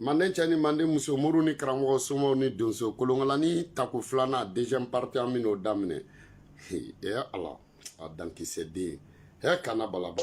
manden cɛ ni manden muso mori ni karamɔgɔ somaw ni donso kolonkalani tako filanan deuxième partie an bɛn'o daminɛ e ala a dankisɛ den hɛ kana balaba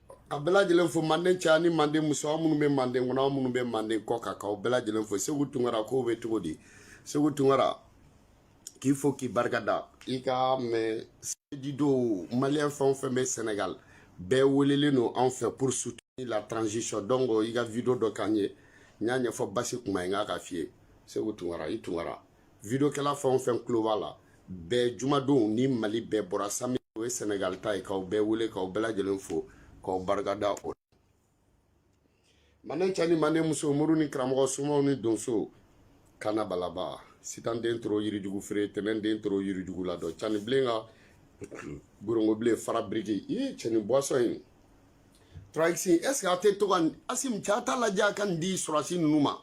ka bɛɛ lajɛlen fo manden cɛ ni manden muso aw minnu bɛ manden kɔnɔ aw minnu bɛ manden kɔ kan k'aw bɛɛ lajɛlen fo seku tunkara k'o bɛ cogo di seku tunkara k'i fo k'i barika da i ka message dɔ maliyɛn fɛn o fɛn bɛ sɛnɛgali bɛɛ welelen don anw fɛ pour soutenir la transition donc i ka video dɔ k'an ye n y'a ɲɛfɔ basi kuma ye n k'a ka f'i ye seku tunkara i tunkara videokɛla fɛn o fɛn tulo b'a la bɛɛ jumadon ni mali bɛɛ bɔra samedi o ye senegal ta ye k'aw bɛɛ wele k'aw bɛɛ lajɛlen fo k'aw barikada o manden cɛ ni manden muso mori ni karamɔgɔ somaw ni donso kana balaba sitanden toro yirijugu feere tɛnɛnden toro yirijugu la dɔ cani bilen ka gorongo bilen fara biriki i cɛni boisson in trois x est ce que a tɛ to ka Asim cɛ a t'a lajɛ a ka nin di sɔrɔdasi ninnu ma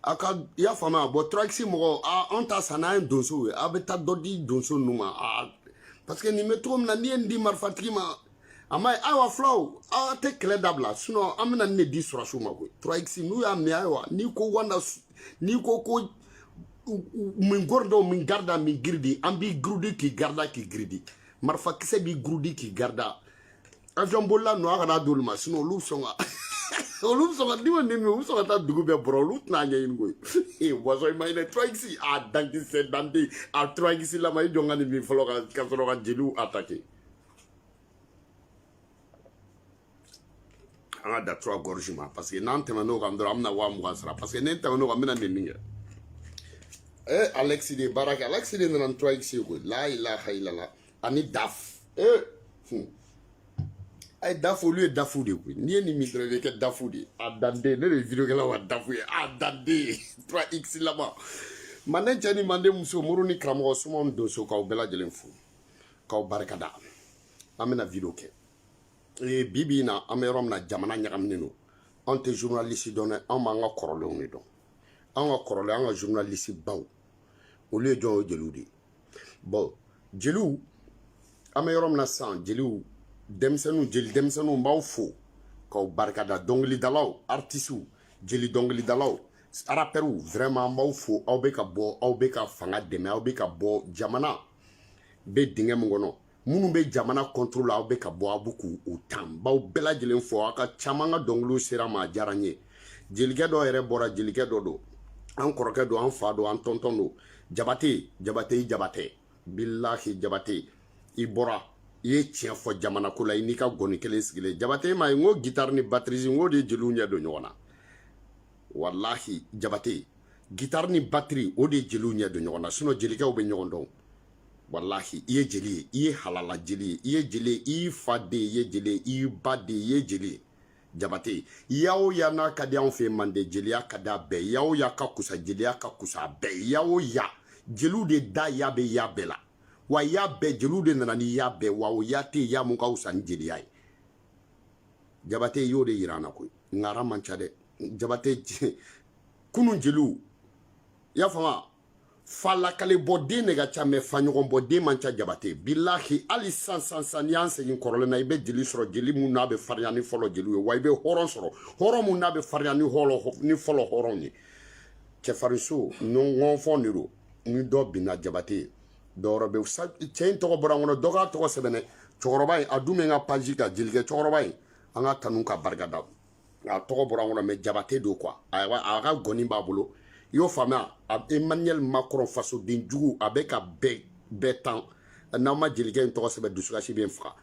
a ka i y'a faamuya bon trois x mɔgɔ a anw ta san n'an ye donsow ye a bɛ taa dɔ di donso ninnu ma a parce que nin bɛ cogo min na n'i ye nin di marifatigi ma a ma ye ayiwa fulaw aw tɛ kɛlɛ dabila sinon an bɛna nin de di sɔrɔdasiw ma koyi trois x n'u y'a mɛn ayiwa n'i ko wanda n'i ko ko min gɔri dɔw min garida min giridi an b'i giridi k'i garida k'i giridi marifakisɛ b'i giridi k'i garida avion bolila ninnu a kana d'olu ma sinon olu sɔn ka olu bɛ sɔn ka d'i ma nin min u bɛ sɔn ka taa dugu bɛɛ bɔrɔ olu tɛna a ɲɛɲini koyi ee boisson i ma ɲinɛ trois x a dankisɛ dante a trois x lama i jɔ ka nin min fɔlɔ ka ka sɔrɔ ka jeliw attaquer an ka dan trois gorgées ma parce que n'an tɛmɛn'o kan dɔrɔn an bɛna waa mugan sara parce que ne tɛmɛn'o kan n bɛna nin min kɛ ee alexis de ye baara kɛ alexis de nana ni trois x ye koyi la ilaha ilala ani daf ee hmm. a ye dafu olu ye dafu de koyi n'i ye nin min dɔrɔn i bɛ kɛ dafu de ye a danden ne de ye videokɛla wa dafu ye a danden trois x laban manden cɛ ni manden muso mori ni karamɔgɔ somaw ni donso k'aw bɛɛ lajɛlen fo k'aw barika da an bɛna video kɛ ee bi bi in na an bɛ yɔrɔ min na jamana ɲagaminen don anw tɛ journaliste dɔn dɛ anw b'an ka kɔrɔlenw de dɔn anw ka kɔrɔlen an ka journaliste baw olu ye jɔn o jeliw de ye bon jeliw an bɛ yɔrɔ min na sisan jeliw denmisɛnninw jeli denmisɛnninw n b'aw fo k'aw barikada dɔnkilidalaw artisiw jeli dɔnkilidalaw arapɛriw vraiment n b'aw fo aw bɛ ka bɔ aw bɛ ka fanga dɛmɛ aw bɛ ka bɔ jamana bɛ dingɛ min kɔnɔ minnu bɛ jamana kɔntoro la aw bɛ ka bɔ aw bɛ k'u tan n b'aw bɛɛ lajɛlen fo aw ka caman ka dɔnkiliw sera n ma a diyara n ye jelikɛ dɔ yɛrɛ bɔra jelikɛ dɔ don an kɔrɔkɛ don an fa don an tɔntɔn don jabate jabate jabate bilahi jabate i bɔra i ye tiɲɛ fɔ jamana ko la i n'i ka gɔni kelen sigilen jabate ma ye n ko gitari ni batiri n ko de ye jeliw ɲɛ don ɲɔgɔn na walahi jabate gitari ni batiri o de ye jeliw ɲɛ don ɲɔgɔn na sinɔn jelikɛw bɛ ɲɔgɔn dɔn walahi i ye jeli ye i ye halala jeli ye i ye jeli ye i fa de ye jeli ye i ba de ye jeli ye jabate ya o ya n'a ka di anw fɛ mande jeliya ka di a bɛɛ ya o ya ka kusa jeliya ka kusa a bɛɛ ya o ya jeliw de da ya bɛ ya bɛɛ la wa ya bɛɛ jeliw de nana ni ya bɛɛ wa o ya tɛ ya mun ka wusa ni jeliya ye jabate y'o de yira an na koyi ngara man ca dɛ jabate kunun jeliw i y'a faamu fa lakali bɔ den de ka ca mɛ fa ɲɔgɔn bɔ den man ca jabate bilahi hali sisan n'i y'an segin kɔrɔlen na i bɛ jeli sɔrɔ jeli mun n'a bɛ farinya ni fɔlɔ jeliw ye wa i bɛ hɔrɔn sɔrɔ hɔrɔn mun n'a bɛ farinya ni hɔlɔ ni fɔlɔ hɔrɔnw ye cɛfarinso ɲɔgɔnfɔn de don ni dɔ binna jabate ye dɔwɛrɛ bɛ cɛ in tɔgɔ bɔra n kɔnɔ dɔ k'a tɔgɔ sɛbɛn n ye cɛkɔrɔba in a dun bɛ n ka paji kan jelikɛ cɛkɔrɔba in an k'a tanu k'a barika da a tɔgɔ bɔra n kɔnɔ mɛ jabate don quoi a ka gɔni b'a bolo i y'o faamuya emmanuel macron fasoden jugu a bɛ ka bɛɛ bɛɛ tan n'aw ma jelikɛ in tɔgɔ sɛbɛn dusukasi bɛ n faga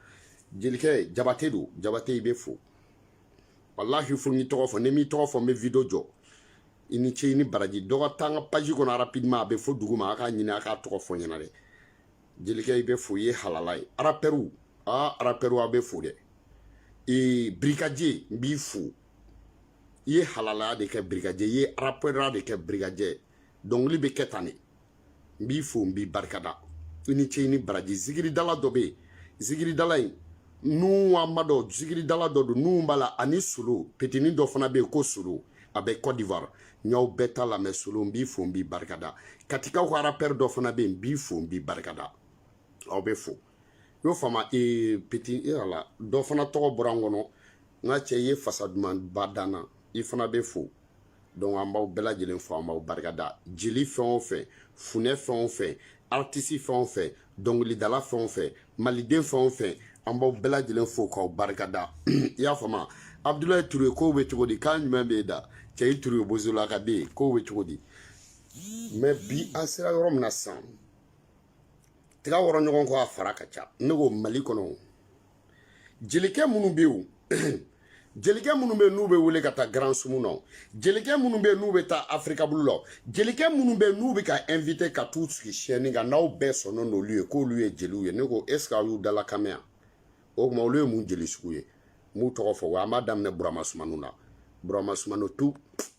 jelikɛ jabate don jabate i bɛ fo walahi fo n y'i tɔgɔ fɔ ni n m'i tɔgɔ fɔ n bɛ video jɔ i ni ce i ni baraji dɔ ka taa n ka page kɔnɔ rapidement a bɛ fo duguma a k'a ɲini a k'a tɔgɔ fɔ n ɲɛna dɛ jelikɛ i bɛ fo i ye halala ye arapɛriw aa arapɛriw aw bɛ fo dɛ ee brigadier n b'i fo i ye halalaya de kɛ brigadier i ye arapɛrɛya de kɛ brigadier dɔnkili bɛ kɛ tan de n b'i fo n b'i barikada i ni ce i ni baraji zikiridala dɔ bɛ yen zikiridala in nuhu wa n m'a dɔn zikiridala dɔ don nuhu b'a la ani solo petini dɔ fana bɛ yen ko solo a bɛ cote d'ivoire n y'aw bɛɛ ta lamɛn solo n b'i fo n b'i barikada katikaw ka arapɛri dɔ fana bɛ yen n b'i fo n b'i barikada aw bɛ fo i y'o faamu ee peti e yɛrɛ la dɔ fana tɔgɔ bɔra n kɔnɔ n ka cɛ i ye fasa dumanba da n na i fana bɛ fo donc an b'aw bɛɛ lajɛlen fo an b'aw barikada jeli fɛn o fɛn funɛ fɛn o fɛn aritisi fɛn o fɛn dɔnkilidala fɛn o fɛn maliden fɛn o fɛn an b'aw bɛɛ lajɛlen fo k'aw barikada i y'a faamuya abudulayi ture kow bɛ cogo di kan ɲuman b'i da cɛ i ture bozola ka den kow bɛ cogo di mɛ bi an sera yɔrɔ min na sisan tiga wɔrɔ ɲɔgɔn kɔ a fara ka ca ne ko mali kɔnɔ jelikɛ minnu bɛ yen jelikɛ minnu bɛ n'u bɛ wele ka taa grand sumu na jelikɛ minnu bɛ n'u bɛ taa afirika bulu la jelikɛ minnu bɛ n'u bɛ ka invité ka t'u sigi scène kan n'aw bɛɛ sɔnna n'olu ye k'olu ye jeliw ye ne ko est ce que aw y'u dalakan mɛn yan o tuma olu ye mun jeli sugu ye n b'u tɔgɔ fɔ wa an b'a daminɛ burama sumanu na burama sumanu tu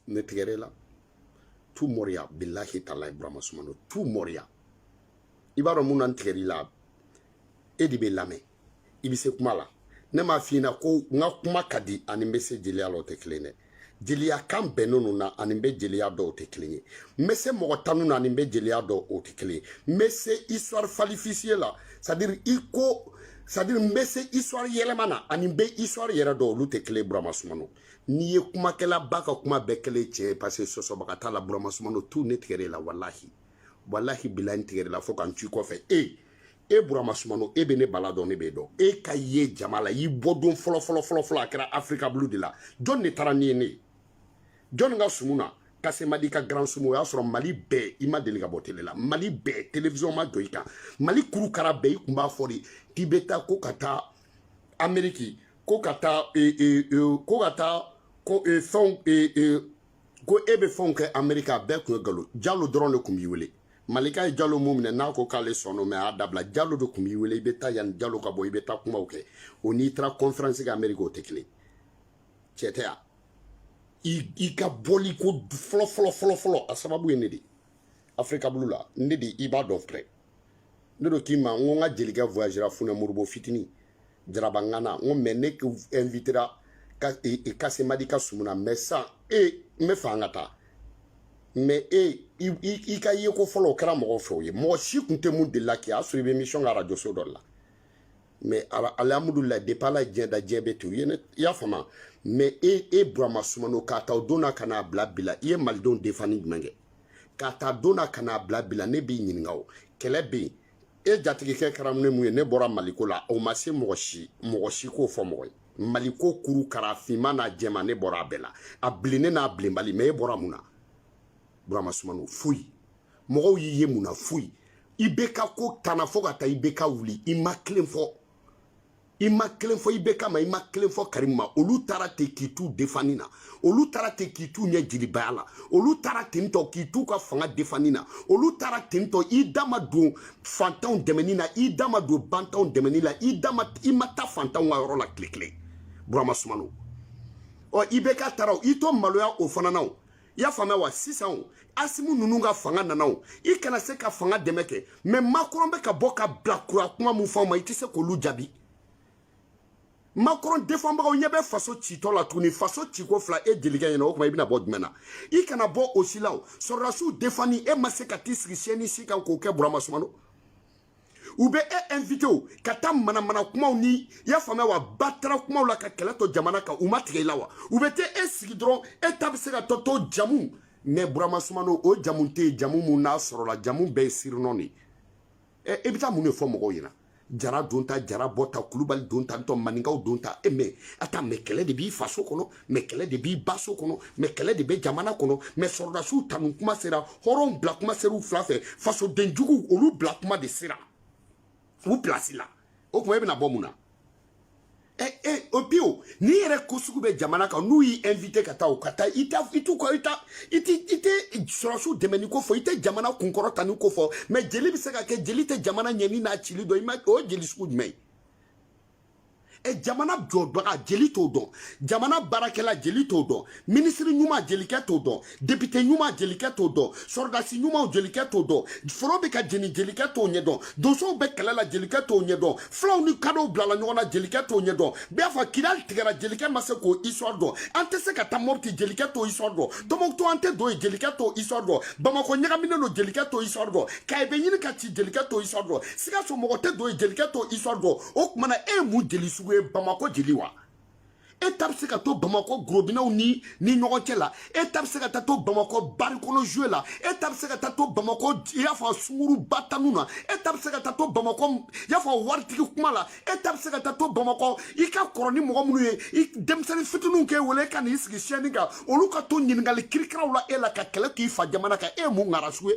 ne tigɛr'e la tu mɔriya bilahi talayi burama sumanu tu mɔriya i b'a dɔn mun na n tigɛr'i la e de bɛ lamɛn i bɛ se kuma la ne m'a f'i ɲɛna ko n ka kuma ka di ani n bɛ se jeliya la o tɛ kelen dɛ jeliya kan bɛnnen ninnu na ani n bɛ jeliya dɔn o tɛ kelen ye n bɛ se mɔgɔ tanu na ani n bɛ jeliya dɔn o tɛ kelen ye n bɛ se histoire falsifié la c'est à dire i ko c'est à dire n bɛ se histoire yɛlɛma na ani n bɛ histoire yɛrɛ dɔn olu tɛ kelen ye burama sumano n'i ye kumakɛlaba ka kuma bɛɛ kɛlen tiɲɛ ye parce que sɔsɔbaga t'a la burama sumano tu ne tigɛr'e la walahi walahi bilahi n tigɛr'e la fo ka n ci i kɔfɛ e e burama sumano e bɛ ne bala dɔn ne b'e dɔn e ka ye jama la i bɔ don fɔlɔ fɔlɔ fɔlɔ fɔlɔ a kɛra afirika bulu de la jɔn de taara n'i ye ne ye jɔn ka sumu na kasemadi ka grand sumu o y'a sɔrɔ mali bɛɛ i ma deli ka bɔ tele la mali bɛɛ television ma jɔ i kan mali kuru kara bɛɛ i kun b'a fɔ de k'i bɛ taa ko ka taa ameriki ko ka taa ko ka taa fɛnw ko e bɛ fɛnw kɛ amerika a bɛɛ kun ye galo jalo dɔrɔn de kun b'i wele malika ye jalo mun minɛ n'a ko k'ale sɔnna mais a y'a dabila jalo de kun b'i wele i bɛ taa yanni jalo ka bɔ i bɛ taa kumaw kɛ o n'i taara conférence kɛ amerika o tɛ kelen cɛ tɛ yan i ka bɔli ko fɔlɔ fɔlɔ fɔlɔ fɔlɔ a sababu ye ne de ye afirika bulu la ne de i b'a dɔn pɛrɛ ne do k'i ma n ko n ka jelikɛ voyagera funɛ moribo fitini jarabangana n ko mais ne invitera kasemadi ka sumu na mais san e n b'a fɛ an ka taa mais e i ka yeko fɔlɔ o kɛra mɔgɔw fɛ o ye mɔgɔ si kun tɛ mun delila kɛ a sɔrɔ i bɛ émission kɛ arajoso dɔ la mais alhamdulila depuis ala ye diɲɛ da diɲɛ bɛ ten i y'a faamu mais e e burama sumano k'a ta o don na ka n'a bila bila i ye malidenw defani jumɛn kɛ k'a ta don na ka n'a bila bila ne b'i ɲininka o kɛlɛ bɛ yen e jatigikɛ kɛra ne mun ye ne bɔra maliko la o ma se mɔgɔ si mɔgɔ si k'o fɔ mɔgɔ ye maliko kuru kara finman n'a jɛman ne bɔra a bɛɛ la a bilennen n'a bilenbali mais e bɔra mun na burama sumano foyi mɔgɔw y'i ye mun na foyi ibk ko tanna fo ka taa ibk wuli i ma kelen fɔ i ma kelen fɔ ibk ma i ma kelen fɔ karimu ma olu taara ten k'i t'u defani na olu taara ten k'i t'u ɲɛ jelibaya la olu taara ten tɔ k'i t'u ka fanga defani na olu taara ten tɔ i da ma don fantanw dɛmɛni na i da ma don bantanw dɛmɛni la i da ma i ma taa fantanw ka yɔrɔ la tile kelen burama sumano ɔ ibk taara i to maloya o fana na o i y'a faamuya wa sisan o asimu ninnu ka fanga nana o i kana se ka fanga dɛmɛ kɛ mɛ makɔrɔn bɛ ka bɔ ka bila kura kuma min fɔ ma i tɛ se k'olu jaabi makɔrɔn defanbagaw ɲɛ bɛ faso citɔ la tuguni faso ciko fila e jelikɛ ɲɛna o kuma i bɛna bɔ jumɛn na i kana bɔ o si la o sɔrɔdasiw defani e ma se ka t'i sigi siyɛni si kan k'o kɛ burama sumano u bɛ e invité o ka taa manamana kumaw ni i y'a faamuya wa batara kumaw la ka kɛlɛ to jamana kan u ma tigɛ i la wa u bɛ taa e sigi dɔrɔn e ta bɛ se ka taa to jamu mɛ burama sumano o jamu tɛ yen jamu mun n'a sɔrɔla jamu bɛɛ ye surnom de ye ɛ e bɛ taa mun de fɔ mɔgɔw ɲɛna jara don ta jara bɔ ta kulubali don ta ntɔ maninkaw don ta e mɛ attends mɛ kɛlɛ de b'i faso kɔnɔ mɛ kɛlɛ de b'i ba so kɔnɔ mɛ kɛlɛ de bɛ jamana kɔnɔ mɛ sɔrɔdasiw tanu kuma sera hɔrɔnw bila kuma ser'u fila fɛ fasoden juguw olu bila kuma de sera u pilasi la o tuma e bɛna bɔ mun na ɛ eh, ɛ eh, o bi o n'i yɛrɛ ko sugu bɛ jamana kan n'u y'i invité ka taa o ka taa i t'a i t'u ka i t'a i t'i i tɛ sɔrɔdasiw dɛmɛni ko fɔ i tɛ jamana kunkɔrɔtani ko fɔ mɛ jeli bɛ se ka kɛ jeli tɛ jamana ɲɛni n'a cili dɔn i ma o ye jeli sugu jumɛn ye. e jamana jɔbaga jeli t'o dɔn jamana baarakɛla jeli t'o dɔn minisiri ɲuman jelikɛ t'o dɔn depite ɲuman jelikɛ t'o dɔn sɔrɔdasi ɲuman jelikɛ t'o dɔn foro bɛ ka jeni jelikɛ t'o ɲɛ dɔn donsow bɛ kɛlɛ la jelikɛ t'o ɲɛ dɔn fulaw ni kadɔw bilala ɲɔgɔn na jelikɛ t'o ɲɛ dɔn b'a fɔ kidali tigɛra jelikɛ ma se k'o histoire dɔn an tɛ se ka taa mɔpti jelikɛ t'o histoire dɔn tɔmɔkutu an tɛ don yen jelikɛ t'o histoire dɔn bamakɔ ɲagaminen don jelikɛ t'o histoire dɔn kayi bɛ ɲini ka ci jelikɛ t'o histoire dɔn sikaso mɔgɔ tɛ don yen jelikɛ t'o histoire dɔn o tuma na e ye mun jeli sugu ye bamakɔ jeli wa e ta bɛ se ka to bamakɔ gorobinɛw ni ɲɔgɔn cɛ la e ta bɛ se ka taa to bamakɔ bari kɔnɔ zuwe la e ta bɛ se ka taa to bamakɔ i y'a fɔ sunguruba tanu na e ta bɛ se ka taa to bamakɔ i y'a fɔ waritigi kuma la e ta bɛ se ka taa to bamakɔ i ka kɔrɔ ni mɔgɔ minnu ye i denmisɛnnin fitininw k'e wele e ka n'i sigi siyɛni kan olu ka to ɲininkali kirikiraw la e la ka kɛlɛ k'i fa jamana kan e ye mun ŋara sugu ye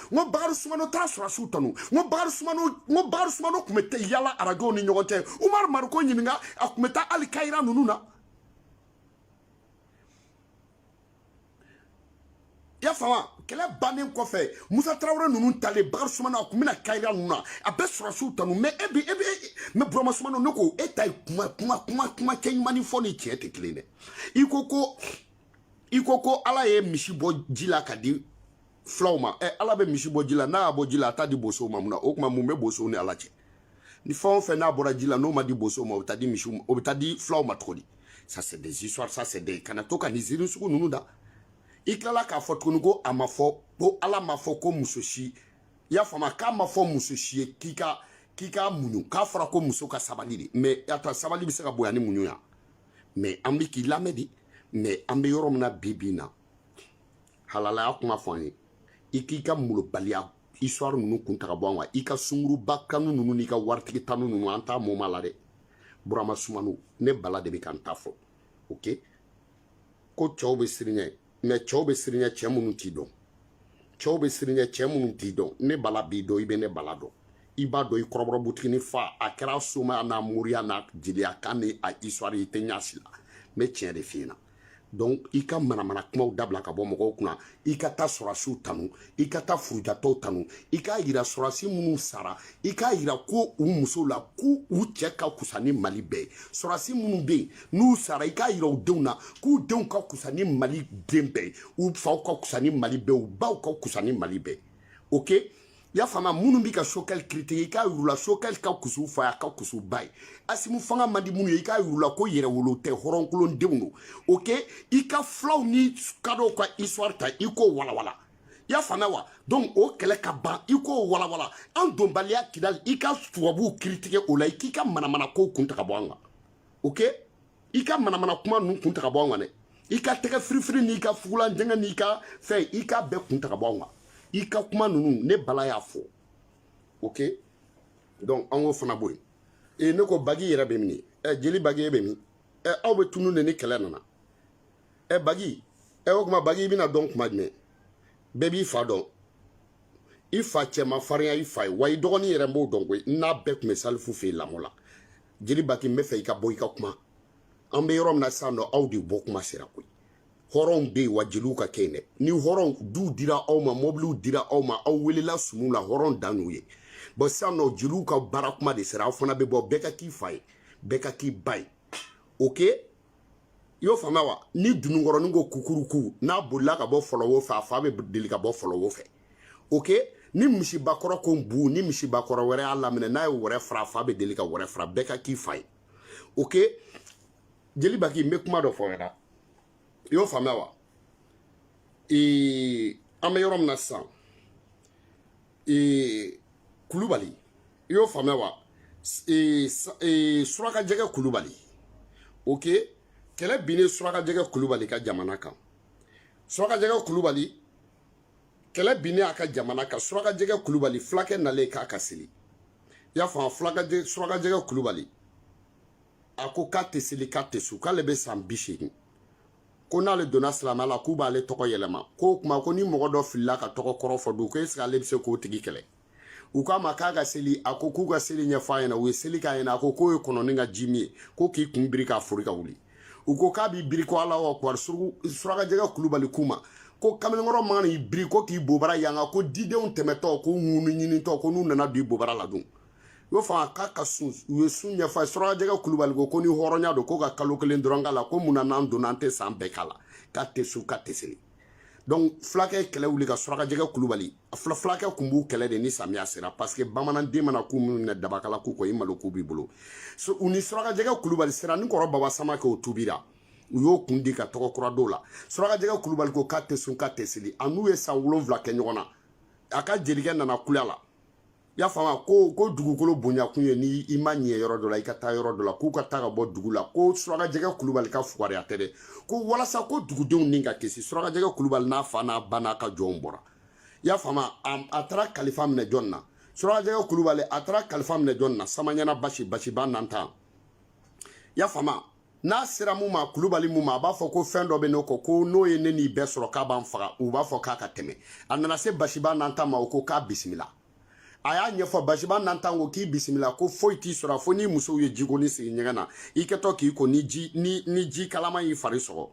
n ko bakari sumano taara sɔrɔdasiw tanu n ko bakari sumano n ko bakari sumano tun bɛ taa yala arajow ni ɲɔgɔn cɛ umaru mariko ɲininka a tun bɛ taa hali kayira ninnu na y'a faamu kɛlɛ bannen kɔfɛ musa tarawele ninnu talen bakari sumano a tun bɛ na kayira ninnu na a bɛ sɔrɔdasiw tanu mɛ e bi e bi mɛ burama sumano ne ko e ta ye kuma kuma kuma kuma cɛ ɲumannin fɔ ni tiɲɛ tɛ kelen dɛ i ko ko i ko ko ala ye misi bɔ ji la ka di fulaw ma ɛ ala bɛ misi bɔ ji la n'a y'a bɔ ji la a t'a di bosow ma mun na o tuma mun bɛ bosow ni ala cɛ ni fɛn o fɛn n'a bɔra ji la n'o ma di bosow ma o bɛ taa di misiw ma o bɛ taa di fulaw ma cogo di ça c'est des histoires ça c'est des kana to ka nin ziiri sugu ninnu da i tilala k'a fɔ tuguni ko a ma fɔ ko ala m'a fɔ ko muso si i y'a faamu k'a ma fɔ muso si ye k'i ka k'i ka muɲu k'a fɔra ko muso ka sabali de mais attends sabali bɛ se ka bonya ni muɲu ya mais an bɛ k'i lamɛn de mais an bɛ yɔrɔ min na bi bi in na halalaya kuma fɔ an ye i k'i ka molobaliya histoire ninnu kun ta ka bɔ an kan i ka sunguruba kanu ninnu n'i ka waritigi tanu ninnu an t'a moment la dɛ burama sumano ne bala de bɛ ka n ta fɔ ok ko cɛw bɛ siran i ɲɛ mais cɛw bɛ siran i ɲɛ cɛ minnu t'i dɔn cɛw bɛ siran i ɲɛ cɛ minnu t'i dɔn ne bala b'i dɔn i bɛ ne bala dɔn i b'a dɔn i kɔrɔbɔrɔ butigini fa a kɛra somaya n'a moriya n'a jeliya kan ni a histoire i tɛ ɲa si la n bɛ tiɲɛ de f'i ɲɛna donc i ka manamana kumaw dabila ka bɔ mɔgɔw kunna i ka taa sɔrasiw tanu i ka taa furujatɔw tanu i k'a yira sɔrasi minnu sara i k'a yira ko u musow la k'u cɛ ka kusa ni mali bɛɛ sɔrasi minnu bɛ yen n'u sara i k'a yira u denw na k'u denw ka kusa ni mali den bɛɛ u faw ka kusa ni mali bɛɛ u baw ka kusa ni mali bɛɛ ok i y'a faamuya minnu bɛ ka sokɛli critiquer i k'a yir'u la sokɛli ka kus'u fa y'a ka kus'u ba ye asimu fanga man di minnu ye i k'a yir'u la ko yɛrɛwolo tɛ hɔrɔnkolon denw don ok i ka fulaw ni kadɔw ka histoire ta i k'o walawala i y'a faamuya wa donc o kɛlɛ ka ban i k'o walawala an donbaliya kidali i ka tubabuw critiquer o la i k'i ka manamana kow kun ta ka bɔ an kan ok i ka manamana kuma ninnu kun ta ka bɔ anw kan dɛ i ka tɛgɛ firifiri n'i ka fugulan jɛngɛ n'i ka fɛn i k'a bɛɛ kun ta ka bɔ anw kan i ka kuma ninnu ne bala y'a fɔ ok donc an k'o fana bɔ yen ee ne ko bagi yɛrɛ bɛ min ɛ jeli bagi e bɛ min ɛ aw bɛ tunun de ni kɛlɛ nana ɛ bagi ɛ o tuma bagi i bɛna dɔn kuma jumɛn bɛɛ b'i fa dɔn i fa cɛ ma farinya i fa ye wa i dɔgɔnin yɛrɛ n b'o dɔn koyi n'a bɛɛ tun bɛ salifu fɛ yen lamɔ la jeli baki n b'a fɛ i ka bɔ i ka kuma an bɛ yɔrɔ min na sisan nɔ aw de bɔ kuma sera koyi hɔrɔnw bɛ yen wa jeliw ka kɛ yen dɛ ni hɔrɔn duw dira aw ma mobiliw dira aw ma aw welela sumu la hɔrɔn dan y'o ye bon sisan nɔ jeliw ka baara kuma de sera aw fana bɛ bɔ bɛɛ ka k'i fa ye bɛɛ ka k'i ba ye ok i y'o faamuya wa ni dununkɔrɔnin ko kukuruku n'a bolila ka bɔ fɔlɔwo fɛ a fa bɛ deli ka bɔ fɔlɔwo fɛ ok ni misibakɔrɔ ko bu ni misibakɔrɔ wɛrɛ y'a laminɛ n'a ye wɛrɛ fara a fa bɛ deli ka wɛrɛ fara bɛɛ ka k'i fa ye ok jeli baki n bɛ kuma dɔ f'i ɲɛna i y'o faamuya wa ee an bɛ yɔrɔ min na sisan ee kulubali i y'o faamuya wa e, e, suraka jɛgɛ kulubali ok kɛlɛ binnen suraka jɛgɛ kulubali ka jamana kan suraka jɛgɛ kulubali kɛlɛ binnen a ka jamana kan suraka jɛgɛ kulubali fulakɛ nalen k'a ka seli i y'a faamu fulaka suraka jɛgɛ kulubali a ko k'a tɛ seli k'a tɛ sun k'ale bɛ san bi seegin ko n'ale donna silamɛya la k'u b'ale tɔgɔ yɛlɛma k'o kuma ko ni mɔgɔ dɔ filila ka tɔgɔ kɔrɔ fɔ dun ko est-ce que ale bɛ se k'o tigi kɛlɛ u k'a ma k'a ka seli a ko k'u ka seli ɲɛfɔ a ɲɛna u ye seli k'a ɲɛna a ko k'o ye kɔnɔni ka jimin ye ko k'i kun biri k'a fori ka wuli u ko k'a b'i biri ko alahu akbar surakajɛgɛ kulubali k'u ma ko kamalenkɔrɔ man'i biri ko k'i bobara yanga ko didenw tɛmɛtɔ ko ŋunu ɲinitɔ ko n'u nana don i bobara la dun y'o faamu k'a ka sun u ye sun ɲɛfɔ a ye surakajɛgɛ kulubali ko ko ni hɔrɔnya don ko ka kalo kelen dɔrɔn k'a la ko mun na n'an donna an tɛ san bɛɛ k'a la k'a tɛ sun k'a tɛ seli donc fulakɛ ye kɛlɛ wuli ka surakajɛgɛ kulubali a fula fulakɛ kun b'u kɛlɛ de ni samiya sera parce que bamananden mana ku minnu minɛ dabakala ku kɔ i malo ku b'i bolo so, u ni surakajɛgɛ kulubali sera ni kɔrɔ baba samakɛ o tubira u y'o kun di ka tɔgɔ kura d'o la surakajɛgɛ kulubali ko k'a tɛ sun k'a tɛ seli a n'u ye san wolonwula kɛ ɲɔgɔn na a ka jelikɛ nana kulya la i y'a faamu ko ko dugukolo bonyakun ye ni i ma ɲɛ yɔrɔ dɔ la i ka taa yɔrɔ dɔ la k'u ka taa ka bɔ dugu la ko surakajɛgɛ kulubali ka fugariya tɛ dɛ ko walasa ko dugudenw ni ka kisi surakajɛgɛ kulubali n'a fa n'a ba n'a ka jɔnw bɔra i y'a faamu a taara kalifa minɛ jɔn na surakajɛgɛ kulubali a taara kalifa minɛ jɔn na samaɲana basi basiba nantan i y'a faamu n'a sera mun ma kulubali mun ma a b'a fɔ ko fɛn dɔ bɛ ne kɔ ko n'o ye ne n'i bɛɛ sɔrɔ k'a b'an faga u b'a fɔ k'a ka tɛmɛ a nana se basiba nantan ma o ko k'a bisimila a y'a ɲɛfɔ basiba nantan ko k'i bisimila ko foyi t'i sɔrɔ fo ni musow ye jigoni sigi ɲɛgɛn na i kɛtɔ k'i ko ni ji ni ni ji kalaman y'i fari sɔgɔ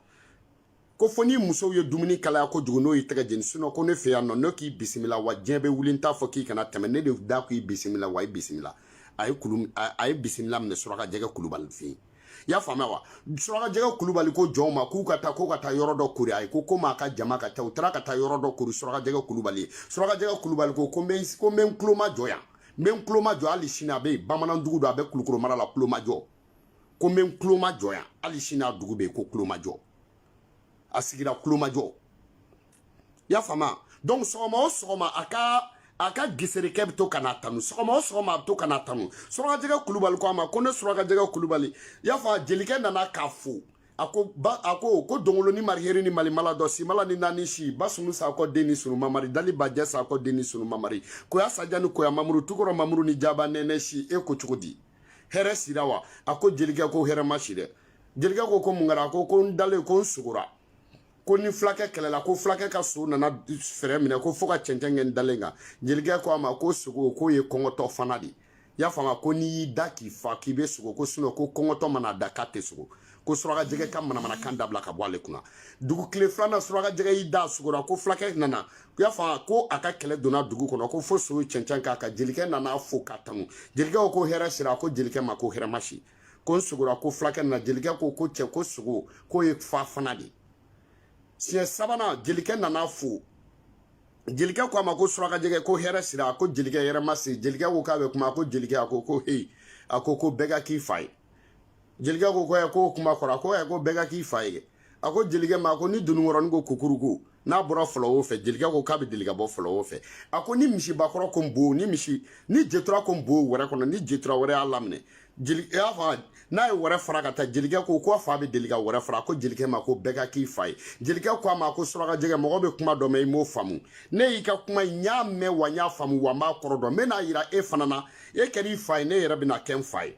ko fo ni musow ye dumuni kalaya kojugu n'o y'i tɛgɛ jeni sinon ko ne fɛ yan nɔ ne k'i bisimila wa diɲɛ bɛ wuli n t'a fɔ k'i kana tɛmɛ ne de da k'i bisimila wa i bisimila a ye kulu a ye bisimila minɛ suraka jɛgɛ kulubali fɛ yen i y'a faamuya wa suraka jɛgɛ kulubali ko jɔnw ma k'u ka taa k'u ka taa yɔrɔ dɔ kori a ye ko komi a ka jama ka ca u taara ka taa yɔrɔ dɔ kori suraka jɛgɛ kulubali ye suraka jɛgɛ kulubali ko ko n bɛ ko n bɛ n tulomajɔ yan n bɛ n tulomajɔ hali sini a bɛ yen bamanandugu don a bɛ kulukoro mara la tulomajɔ ko n bɛ n kulomajɔ yan hali sini a dugu bɛ yen ko kulomajɔ a sigira kulomajɔ i y'a faamuya donc sɔgɔma o sɔgɔma a ka a ka geserekɛ bɛ to ka n'a tanu sɔgɔma o sɔgɔma a bɛ to ka n'a tanu surakajɛgɛ kulubali ko a ma ko ne surakajɛgɛ kulubali i y'a fɔ jelikɛ nana k'a fo a ko nba a ko ko dongolonin mariheri ni malimala dɔ simala ni naani si ba sunu sakɔ den ni sunu mamari dali bajɛ sakɔ den ni sunu mamari koya saja ni koya mamuru tukɔrɔ mamuru ni jaba nɛnɛ si e ko cogo di hɛrɛ sira wa a ko jelikɛ ko hɛrɛ ma si dɛ jelikɛ ko ko mun kɛra a ko ko n dalen ko n sogora ko ni fulakɛ kɛlɛla ko fulakɛ ka so nana fɛrɛ minɛ ko fo ka cɛncɛn kɛ n dalen kan jelikɛ ko a ma ko sogo k'o ye kɔngɔtɔ fana de ye y'a faamuya ko n'i y'i da k'i fa k'i bɛ sogo ko sinon ko kɔngɔtɔ mana da k'a tɛ sogo ko suraka jɛgɛ ka manamanakan dabila ka bɔ ale kunna dugu tile filanan suraka jɛgɛ y'i da sugora ko fulakɛ nana u y'a fɔ ko a ka kɛlɛ donna dugu kɔnɔ ko fo so ye cɛncɛn k'a kan jelikɛ nana fo k'a tanu jelikɛ ko hɛrɛ sira ko jelikɛ ma ko hɛrɛ ma si ko n sogora ko fulakɛ nana jelikɛ ko ko cɛ ko sogo k'o ye fa fana de siɲɛ sabanan jelikɛ nana fo jelikɛ ko a ma ko surakajɛgɛ ko hɛrɛ sira ko jelikɛ hɛrɛ ma si jelikɛ ko k'a bɛ kuma ko jelikɛ a ko ko heyi a ko ko bɛɛ ka k'i fa ye jelikɛ ko ko ɛ ko kuma kɔrɔ a ko ɛ ko bɛɛ ka k'i fa ye a ko jelikɛ ma ko ni dununkɔrɔnin ko kukuruku n'a bɔra fɔlɔ o fɛ jelikɛ ko k'a bɛ deli ka bɔ fɔlɔ o fɛ a ko ni misibakɔrɔ ko n bo ni misi ni jetura ko n bo wɛrɛ kɔnɔ ni jetura wɛrɛ y'a laminɛ jeli y'a fɔ n'a ye wɛrɛ fara ka taa jelikɛ ko ko a fa bɛ deli ka wɛrɛ fara ko jelikɛ ma ko bɛɛ ka k'i fa ye jelikɛ ko a ma ko suraka jɛgɛ mɔgɔ bɛ kuma dɔ mɛn i m'o faamu ne y'i ka kuma n y'a mɛn wa n y'a faamu wa n b'a kɔrɔ dɔn n bɛn'a yira e fana na e kɛra i fa ye ne yɛrɛ bɛna kɛ n fa ye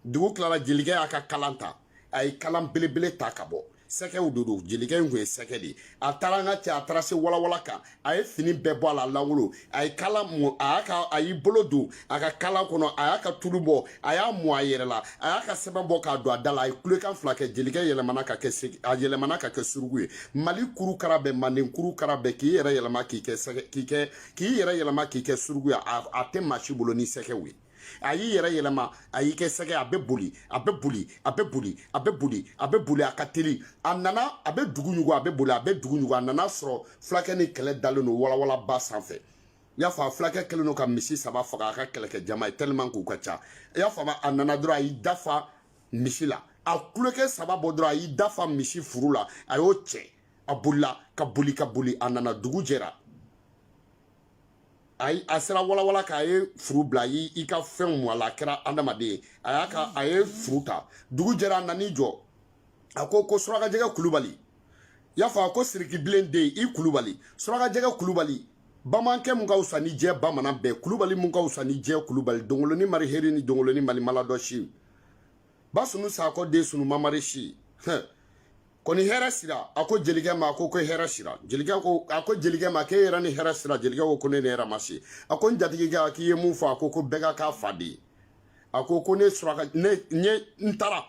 dugu tilala jelikɛ y'a ka kalan ta a ye kalan belebele ta ka bɔ sɛgɛw de don jelikɛ in kun ye sɛgɛ de ye a taara an ka cɛ a taara se walawala kan a ye fini bɛɛ bɔ a la lankolon a ye kalan mɔ a y'a ka a y'i bolo don a ka kalan kɔnɔ a y'a ka tulu bɔ a y'a mu a yɛrɛ la a y'a ka sɛbɛn bɔ k'a don a da la a ye kulekan fila kɛ jelikɛ yɛlɛmana ka kɛ sɛgɛ a yɛlɛmana ka kɛ suruku ye mali kuru kara bɛɛ manden kuru kara bɛɛ k'i yɛrɛ yɛlɛma k'i kɛ sɛgɛ k'i kɛ k'i yɛrɛ yɛlɛma k'i kɛ suruku ye a tɛ maa si bolo ni sɛgɛw ye a y'i yɛrɛ yɛlɛma a y'i kɛ sɛgɛ a bɛ boli a bɛ boli a bɛ boli a bɛ boli a bɛ boli a ka teli a nana a bɛ dugu ɲugu a bɛ boli a bɛ dugu ɲugu a nana sɔrɔ fulakɛ ni kɛlɛ dalen don walawalaba sanfɛ i y'a fɔ a fulakɛ kɛlen don ka misi saba faga a ka kɛlɛkɛ jama ye tellement k'u ka ca i y'a faamu a nana dɔrɔn a y'i dafa misi la a kulekan saba bɔ dɔrɔn a y'i dafa misi furu la a y'o cɛ a bolila ka boli ka boli a nana dugu jɛra ayi a sera walawala kan a ye furu bila i i ka fɛnw mu a la a kɛra adamaden ye a y'a ka a ye furu ta dugu jɛra a nan'i jɔ a ko ko surakajɛgɛ kulubali i y'a fɔ a ko sirikibilen den i kulubali surakajɛgɛ kulubali bamankɛ mun ka wusa ni diɲɛ bamanan bɛɛ kulubali mun ka wusa ni diɲɛ kulubali dongoloni mari heri ni dongoloni mari maladɔ si basunu sakɔ den sunu mamari si hɛn ko ni hɛrɛ sira a ko jelikɛ ma ko ko hɛrɛ sira jelikɛ ko a ko jelikɛ ma k'e yɛrɛ ni hɛrɛ sira jelikɛ ko ko ne ni hɛrɛ ma si a ko n jatigikɛ k'i ye mun fɔ a ko ko bɛɛ ka k'a fa den ye a ko ko ne suraka ne ɲe n taara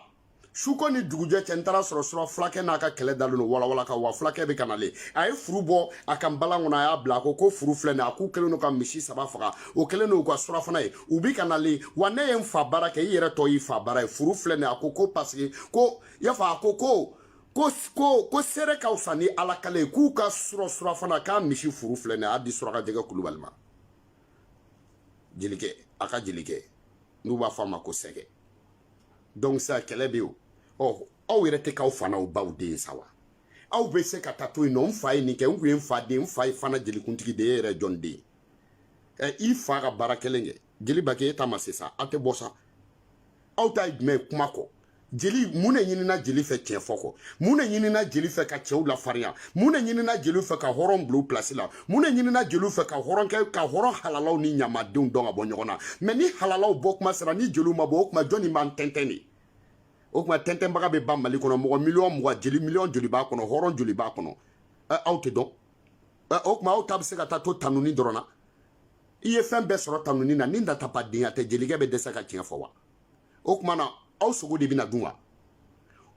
suko ni dugujɛ cɛ n taara sɔrɔ sura fulakɛ n'a ka kɛlɛ dalen don walawala kan wa fulakɛ bɛ ka nalen a ye furu bɔ a ka npalan kɔnɔ a y'a bila a ko ko furu filɛ nin a k'u kɛlen don ka misi saba faga o kɛlen don u ka surafana ye u bi ka nalen wa ne ye n fa baara kɛ i yɛrɛ tɔ y'i fa baara ye furu filɛ nin a ko ko paseke ko i y'a fɔ a ko ko ko ko ko seere ka fisa ni ala kali ye k'u ka surɔ surafana k'a misi furu filɛ nin ye a di suraka jɛgɛ kulubali ma jelikɛ a ka jelikɛ n'u b'a fɔ a ma ko sɛgɛ donc sa kɛlɛ bɛ yen o ɔ aw yɛrɛ tɛ k'aw fa n'aw baw den sa wa aw bɛ se ka taa to yen nɔ n fa ye nin kɛ n kun ye n fa den n fa ye fana jelikuntigi de ye e yɛrɛ jɔn den ɛ i fa ka baara kelen kɛ jeliba kɛ e ta ma se sa aw tɛ bɔ sa aw ta ye jumɛn ye kuma kɔ jeli mun de ɲinina jeli fɛ tiɲɛ fɔ kɔ mun de ɲinina jeli fɛ ka cɛw lafarinya mun de ɲinina jeli fɛ ka hɔrɔn bila pilasi la mun de ɲinina jeli fɛ ka hɔrɔn kɛ ka hɔrɔn halalaw ni ɲamadenw dɔn ka bɔ ɲɔgɔn na mɛ ni halalaw bɔ kuma sera ni jeliw ma bɔ o kuma jɔnni b'an tɛntɛn de o kuma tɛntɛnbaga bɛ ban mali kɔnɔ mɔgɔ miliyɔn mugan jeli miliyɔn joli b'a kɔnɔ hɔrɔn joli b'a kɔnɔ aw tɛ dɔn o kuma aw ta bɛ se ka taa to tanuni dɔrɔn na i ye fɛn bɛɛ sɔrɔ tanuni na ni natabadenya tɛ jelikɛ bɛ dɛsɛ ka tiɲɛ fɔ wa o kuma na aw sogo de bɛna dun wa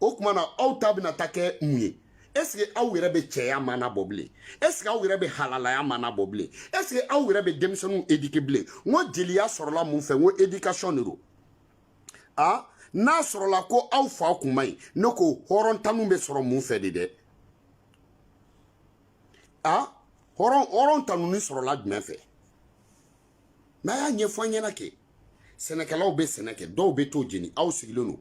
o kuma na aw ta bɛna ta kɛ mun ye ɛseke aw yɛrɛ bɛ cɛya maana bɔ bilen ɛseke aw yɛrɛ bɛ halalaya maana bɔ bilen ɛseke aw yɛrɛ bɛ denmisɛnninw edike bilen n ko jeliya sɔrɔla mun fɛ n ko edikasɔn de don a n'a sɔrɔla ko aw fa kun man ɲi ne ko hɔrɔntanu bɛ sɔrɔ mun fɛ de dɛ a hɔrɔn hɔrɔn tanuni sɔrɔla jumɛn fɛ n'a y'a ɲɛfɔ an ɲɛna kɛ sɛnɛkɛlaw bɛ sɛnɛ kɛ dɔw bɛ t'o jeni aw sigilen don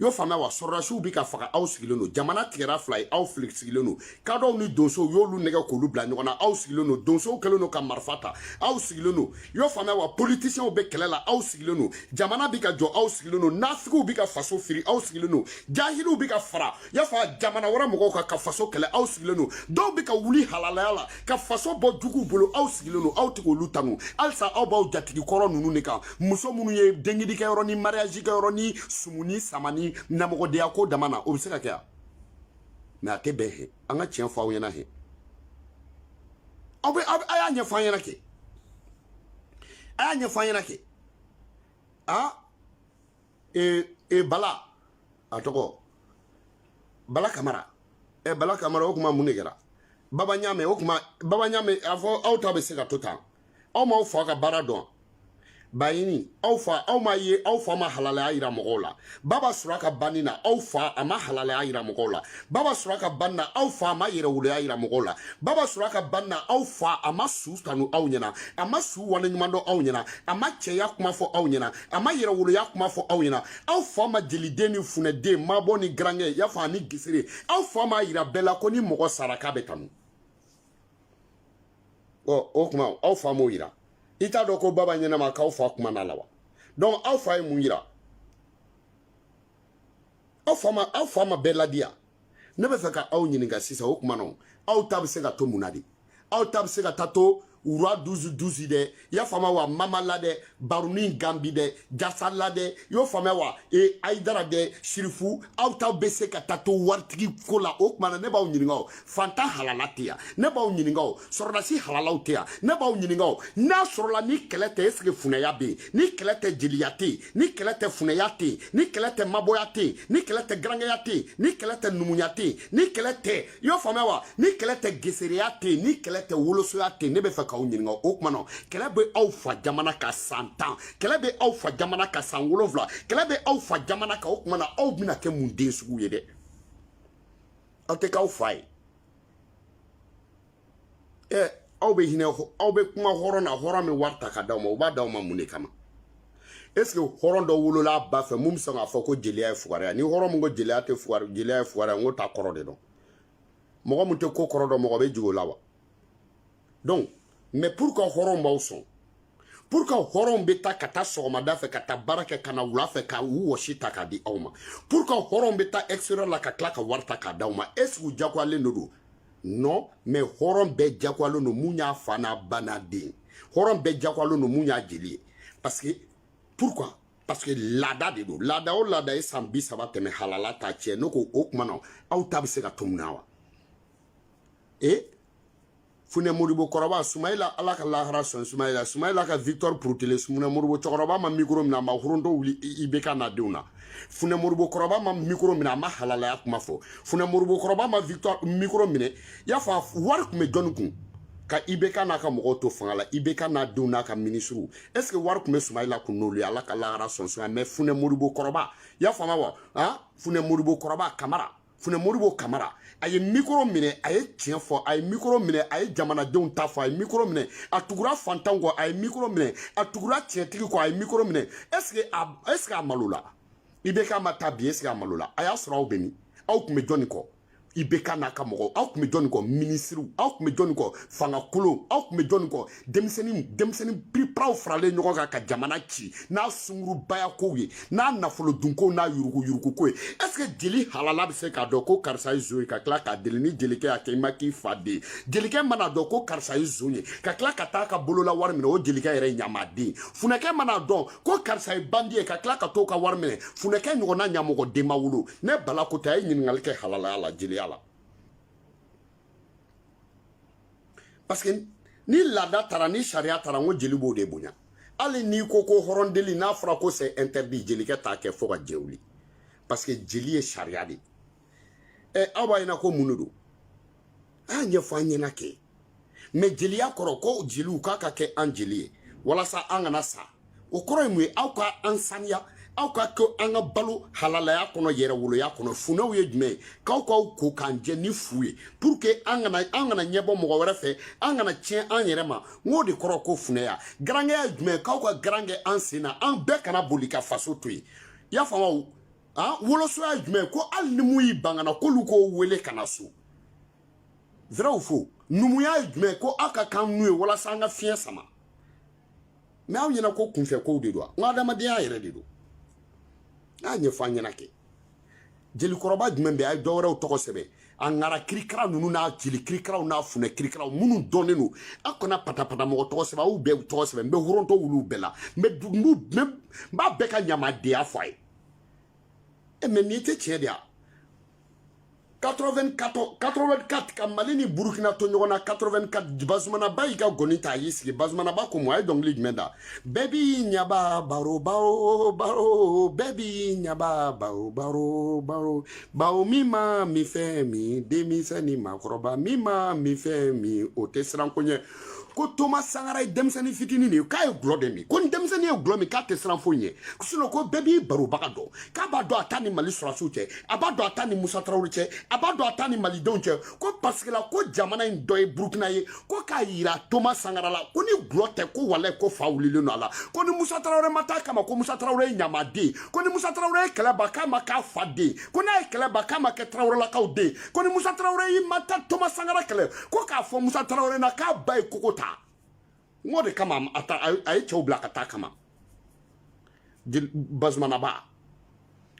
y'o faamuya wa sɔrɔdasiw bɛ ka faga aw sigilen don jamana tigɛra fila ye aw fili sigilen don kadɔw ni donsow y'olu nɛgɛn k'olu bila ɲɔgɔn na aw sigilen don donsow kɛlen don ka marifa ta aw sigilen don y'o faamuya wa politisiyɛnw bɛ kɛlɛ la aw sigilen don jamana bɛ ka jɔ aw sigilen don nafigiw bɛ ka faso firi aw sigilen don jahiliw bɛ ka fara y'a fɔ a jamana wɛrɛ mɔgɔw kan ka faso kɛlɛ aw sigilen don dɔw bɛ ka wuli halalaya la ka faso bɔ juguw bolo aw sigilen don aw tɛ k'olu tanu halisa aw b'aw jatigi kɔrɔ ninnu de kan muso minnu ye denkundi kɛ yɔrɔ ni mariyaji kɛ yɔrɔ ni sumuni samani ɲamɔgɔdenya ko dama na o bɛ se ka kɛ yan mɛ a tɛ bɛn he an ka tiɲɛ fɔ aw ɲɛna he aw bɛ a y'a ɲɛfɔ an ɲɛna kɛ a y'a ɲɛfɔ an ɲɛna kɛ a ee ee bala a tɔgɔ bala kamara ɛ eh, bala kamara o kuma mun de kɛra baba ɲaamɛ o kuma baba ɲaamɛ a fɔ aw ta bɛ se ka to tan aw m'aw fa ka baara dɔn bayini aw fa aw ma ye aw fa ma halalaya yira mɔgɔw la baba sura ka banni na aw fa a ma halalaya yira mɔgɔw la baba sura ka banni na aw fa a ma yɛrɛwoloya yira mɔgɔw la baba sura ka banni na aw fa a ma su tanu aw ɲɛna a ma su waleɲuman dɔn aw ɲɛna a ma cɛya kuma fɔ aw ɲɛna a ma yɛrɛwoloya kuma fɔ aw ɲɛna aw fa ma jeliden ni funɛden mabɔ ni garankɛ y'a fɔ ani gesere aw fa m'a yira bɛɛ la ko ni mɔgɔ sara k'a bɛ tanu ɔ o kuma aw fa m'o yira i t'a dɔn ko baba ɲɛnama k'aw fa kuma na la wa donc aw fa ye mun yira aw fa ma aw fa ma bɛɛ ladiya ne bɛ fɛ ka aw ɲininka sisan o kuma na aw ta bɛ se ka to mun na de aw ta bɛ se ka taa to roi douze douze dɛ i y'a faamuya wa mama la dɛ barunin ganbi dɛ jasa la dɛ i y'o faamuya wa e ayidara dɛ sirifu aw ta bɛ se ka taa to waritigi ko la o kuma na ne b'aw ɲininka o fantan halala tɛ yan ne b'aw ɲininka o sɔrɔdasi halalaw tɛ yan ne b'aw ɲininka o n'a sɔrɔla ni kɛlɛ tɛ est-ce que funɛya bɛ yen ni kɛlɛ tɛ jeliya tɛ yen ni kɛlɛ tɛ funɛya tɛ yen ni kɛlɛ tɛ mabɔya tɛ yen ni kɛlɛ tɛ garankɛya tɛ yen ni kɛlɛ tɛ numuya tɛ yen ni kɛlɛ tɛ i y'o faamuya wa ni kɛlɛ tɛ gesereya tɛ yen ni kɛlɛ tɛ wolosoya tɛ yen ne bɛ fɛ k'aw ɲininka o kuma na kɛlɛ bɛ aw fa jamana kan san tan kɛlɛ bɛ aw fa jamana kan san wolonwula kɛlɛ bɛ aw fa jamana kan o kuma na aw bɛna kɛ mun den sugu ye dɛ aw tɛ k'aw fa ye ɛ aw bɛ hinɛ aw bɛ kuma hɔrɔn na hɔrɔn bɛ wari ta k'a d'aw ma u b'a d'aw ma mun de kama est-ce que hɔrɔn dɔ wolola a ba fɛ mun bɛ sɔn k'a fɔ ko jeliya ye fugariya ni hɔrɔn min ko jeliya tɛ fugari jeliya ye fugariya n k'o t'a kɔrɔ de dɔn mɔgɔ min tɛ ko kɔrɔ dɔn mɔgɔ bɛ jigin o la wa donc mais pourquoi hɔrɔnw b'aw sɔn pourquoi hɔrɔnw bɛ taa ka taa sɔgɔmada fɛ ka taa baara kɛ ka na wula fɛ ka u wɔsi ta k'a di aw ma pourquoi hɔrɔnw bɛ taa extérieur la ka tila ka wari ta k'a d'aw ma est ce que u jagoyalen de don non mais hɔrɔn bɛɛ jagoyalen don mun y'a fa n'a ba n'a den hɔrɔn bɛɛ jagoyalen don mun y'a jeli ye parce que pourquoi parce que laada de don laada o laada ye san bi saba tɛmɛ halala t'a tiɲɛ ne ko o kuma na aw ta bɛ se ka to mun na wa e funɛ modibo kɔrɔba sumayila ala ka lahara sɔn sumayila sumayila ka victor purutile funɛ modibo cɛkɔrɔba ma mikoro mina a ma horondo wuli ibk n'a denw na funɛ modibo kɔrɔba ma mikoro mina a ma halalaya kuma fɔ funɛ modibo kɔrɔba ma victor mikoro minɛ i y'a fɔ a wari tun bɛ jɔni kun ka ibk n'a ka mɔgɔw to fanga la ibk n'a denw n'a ka minisiriw est ce que wari tun bɛ sumayila kun n'olu ye ala ka lahara sɔn sɔn mais funɛ modibo kɔrɔba i y'a faamuya wa funɛ modibo kɔrɔba kamara funɛ modibo kamara a ye mikoro minɛ a ye tiɲɛ fɔ a ye mikoro minɛ a ye jamanadenw ta fɔ a ye mikoro minɛ a tugura fantanw kɔ a ye mikoro minɛ a tugura tiɲɛtigi kɔ a ye mikoro minɛ ɛseke a ɛseke a malola ibk ma taa bi ɛseke a malola a y'a sɔrɔ aw bɛ min aw tun bɛ jɔnni kɔ ibk n'a ka mɔgɔw aw tun bɛ jɔnni kɔ minisiriw aw tun bɛ jɔnni kɔ fanga kolon aw tun bɛ jɔnni kɔ denmisɛnnin denmisɛnnin piriparaw faralen ɲɔgɔn kan ka jamana ci n'a sungurubaya kow ye n'a nafolo dunkow n'a yuruguyurugu ko ye est ce que jeli halala bɛ se k'a dɔn ko karisa ye zon ye ka tila k'a deli ni jelikɛ y'a kɛ i ma k'i fa den jelikɛ mana dɔn ko karisa ye zon ye ka tila ka taa ka bolola wari minɛ o jelikɛ yɛrɛ ɲamaden funɛkɛ mana dɔn ko karisa ye bandi ye ka tila ka t'o ka wari minɛ funɛkɛ ɲɔgɔnna ɲamɔgɔden ma wolo ne bala ko tɛ a ye ɲininkali kɛ halalaya la jeliya la parce que ni laada taara ni sariya taara n ko jeli b'o de bonya hali n'i ko ko hɔrɔn deli n'a fɔra ko c'est interdit jelikɛ t'a kɛ fo ka jɛn wuli parce que jeli ye sariya de ɛ aw b'a ɲɛna ko mun de don a y'a ɲɛfɔ an ɲɛna kɛ mɛ jeliya kɔrɔ ko jeliw k'a ka kɛ an jeli ye walasa an kana sa o kɔrɔ ye mun ye aw ka an saniya aw ka kɛ an ka balo halalaya kɔnɔ yɛrɛwoloya kɔnɔ funɛw ye jumɛn ye k'aw k'aw ko k'an jɛ ni fu ye pour que an kana an kana ɲɛbɔ mɔgɔ wɛrɛ fɛ an kana tiɲɛ an yɛrɛ ma n k'o de kɔrɔ ko funɛya garankɛya ye jumɛn ye k'aw ka garan kɛ an sen na an bɛɛ kana boli ka faso to yen i y'a faamu han wolosoya ye jumɛn ye ko hali ni mun y'i ban ka na k'olu k'o wele ka na so vrai ou faux numuya ye jumɛn ye ko aw ka k'an nun ye walasa an ka fiɲɛ sama mɛ aw ɲɛna ko kunfɛ kow de don an ka adamadenya yɛrɛ de don n'a ɲɛfɔ an ɲɛna kɛ jelikɔrɔba jumɛn bɛ a ye dɔwɛrɛw tɔgɔ sɛbɛn a ŋara kirikara ninnu n'a jeli kirikaraw n'a funɛ kirikaraw minnu dɔnnen don a kana patapata mɔgɔ tɔgɔ sɛbɛn aw bɛɛ tɔgɔ sɛbɛn n bɛ foronto wuli u bɛɛ la n bɛ n b'a bɛɛ ka ɲamadenya fɔ a ye e mɛ nin tɛ tiɲɛ de ya 84 84 ka mali ni burukina to ɲɔgɔn na 84 bazumanaba y'i ka ngɔni ta a y'i sigi bazumanaba ko mun a ye dɔnkili jumɛn da bɛɛ b'i ɲaba baro baro baro bɛɛ b'i ɲaba baro baro baro bawo min ma minfɛn min denmisɛn ni maakɔrɔba min ma minfɛn min o tɛ siran ko ɲɛ ko toma sankara ye denmisɛnnin fitinin de ye k'a ye gulɔ de min ko ni denmisɛnnin ye gulɔ min k'a tɛ siran foyi ɲɛ sinon ko bɛɛ b'i barobaga dɔn k'a b'a dɔn a ta ni mali sɔrɔsiw cɛ a b'a dɔn a ta ni musa tarawele cɛ a b'a dɔn a ta ni malidenw cɛ ko parce que la ko jamana in dɔ ye burukina ye ko k'a yira toma sankara la ko ni gulɔ tɛ ko walayi ko fa wulilen don a la ko ni musa tarawele ma taa kama ko musa tarawele ye ɲamaden ko ni musa tarawele ye kɛlɛ ban k'a ma k'a fa den ko n'a ye kɛlɛ ban k'a ma kɛ tarawelelakaw den ko ni musa tarawele y'i ma taa toma sankara kɛlɛ ko k'a fɔ musa tarawele na k'a ba ye kogo ta n k'o de kama a ye cɛw bila ka taa kama bazumanaba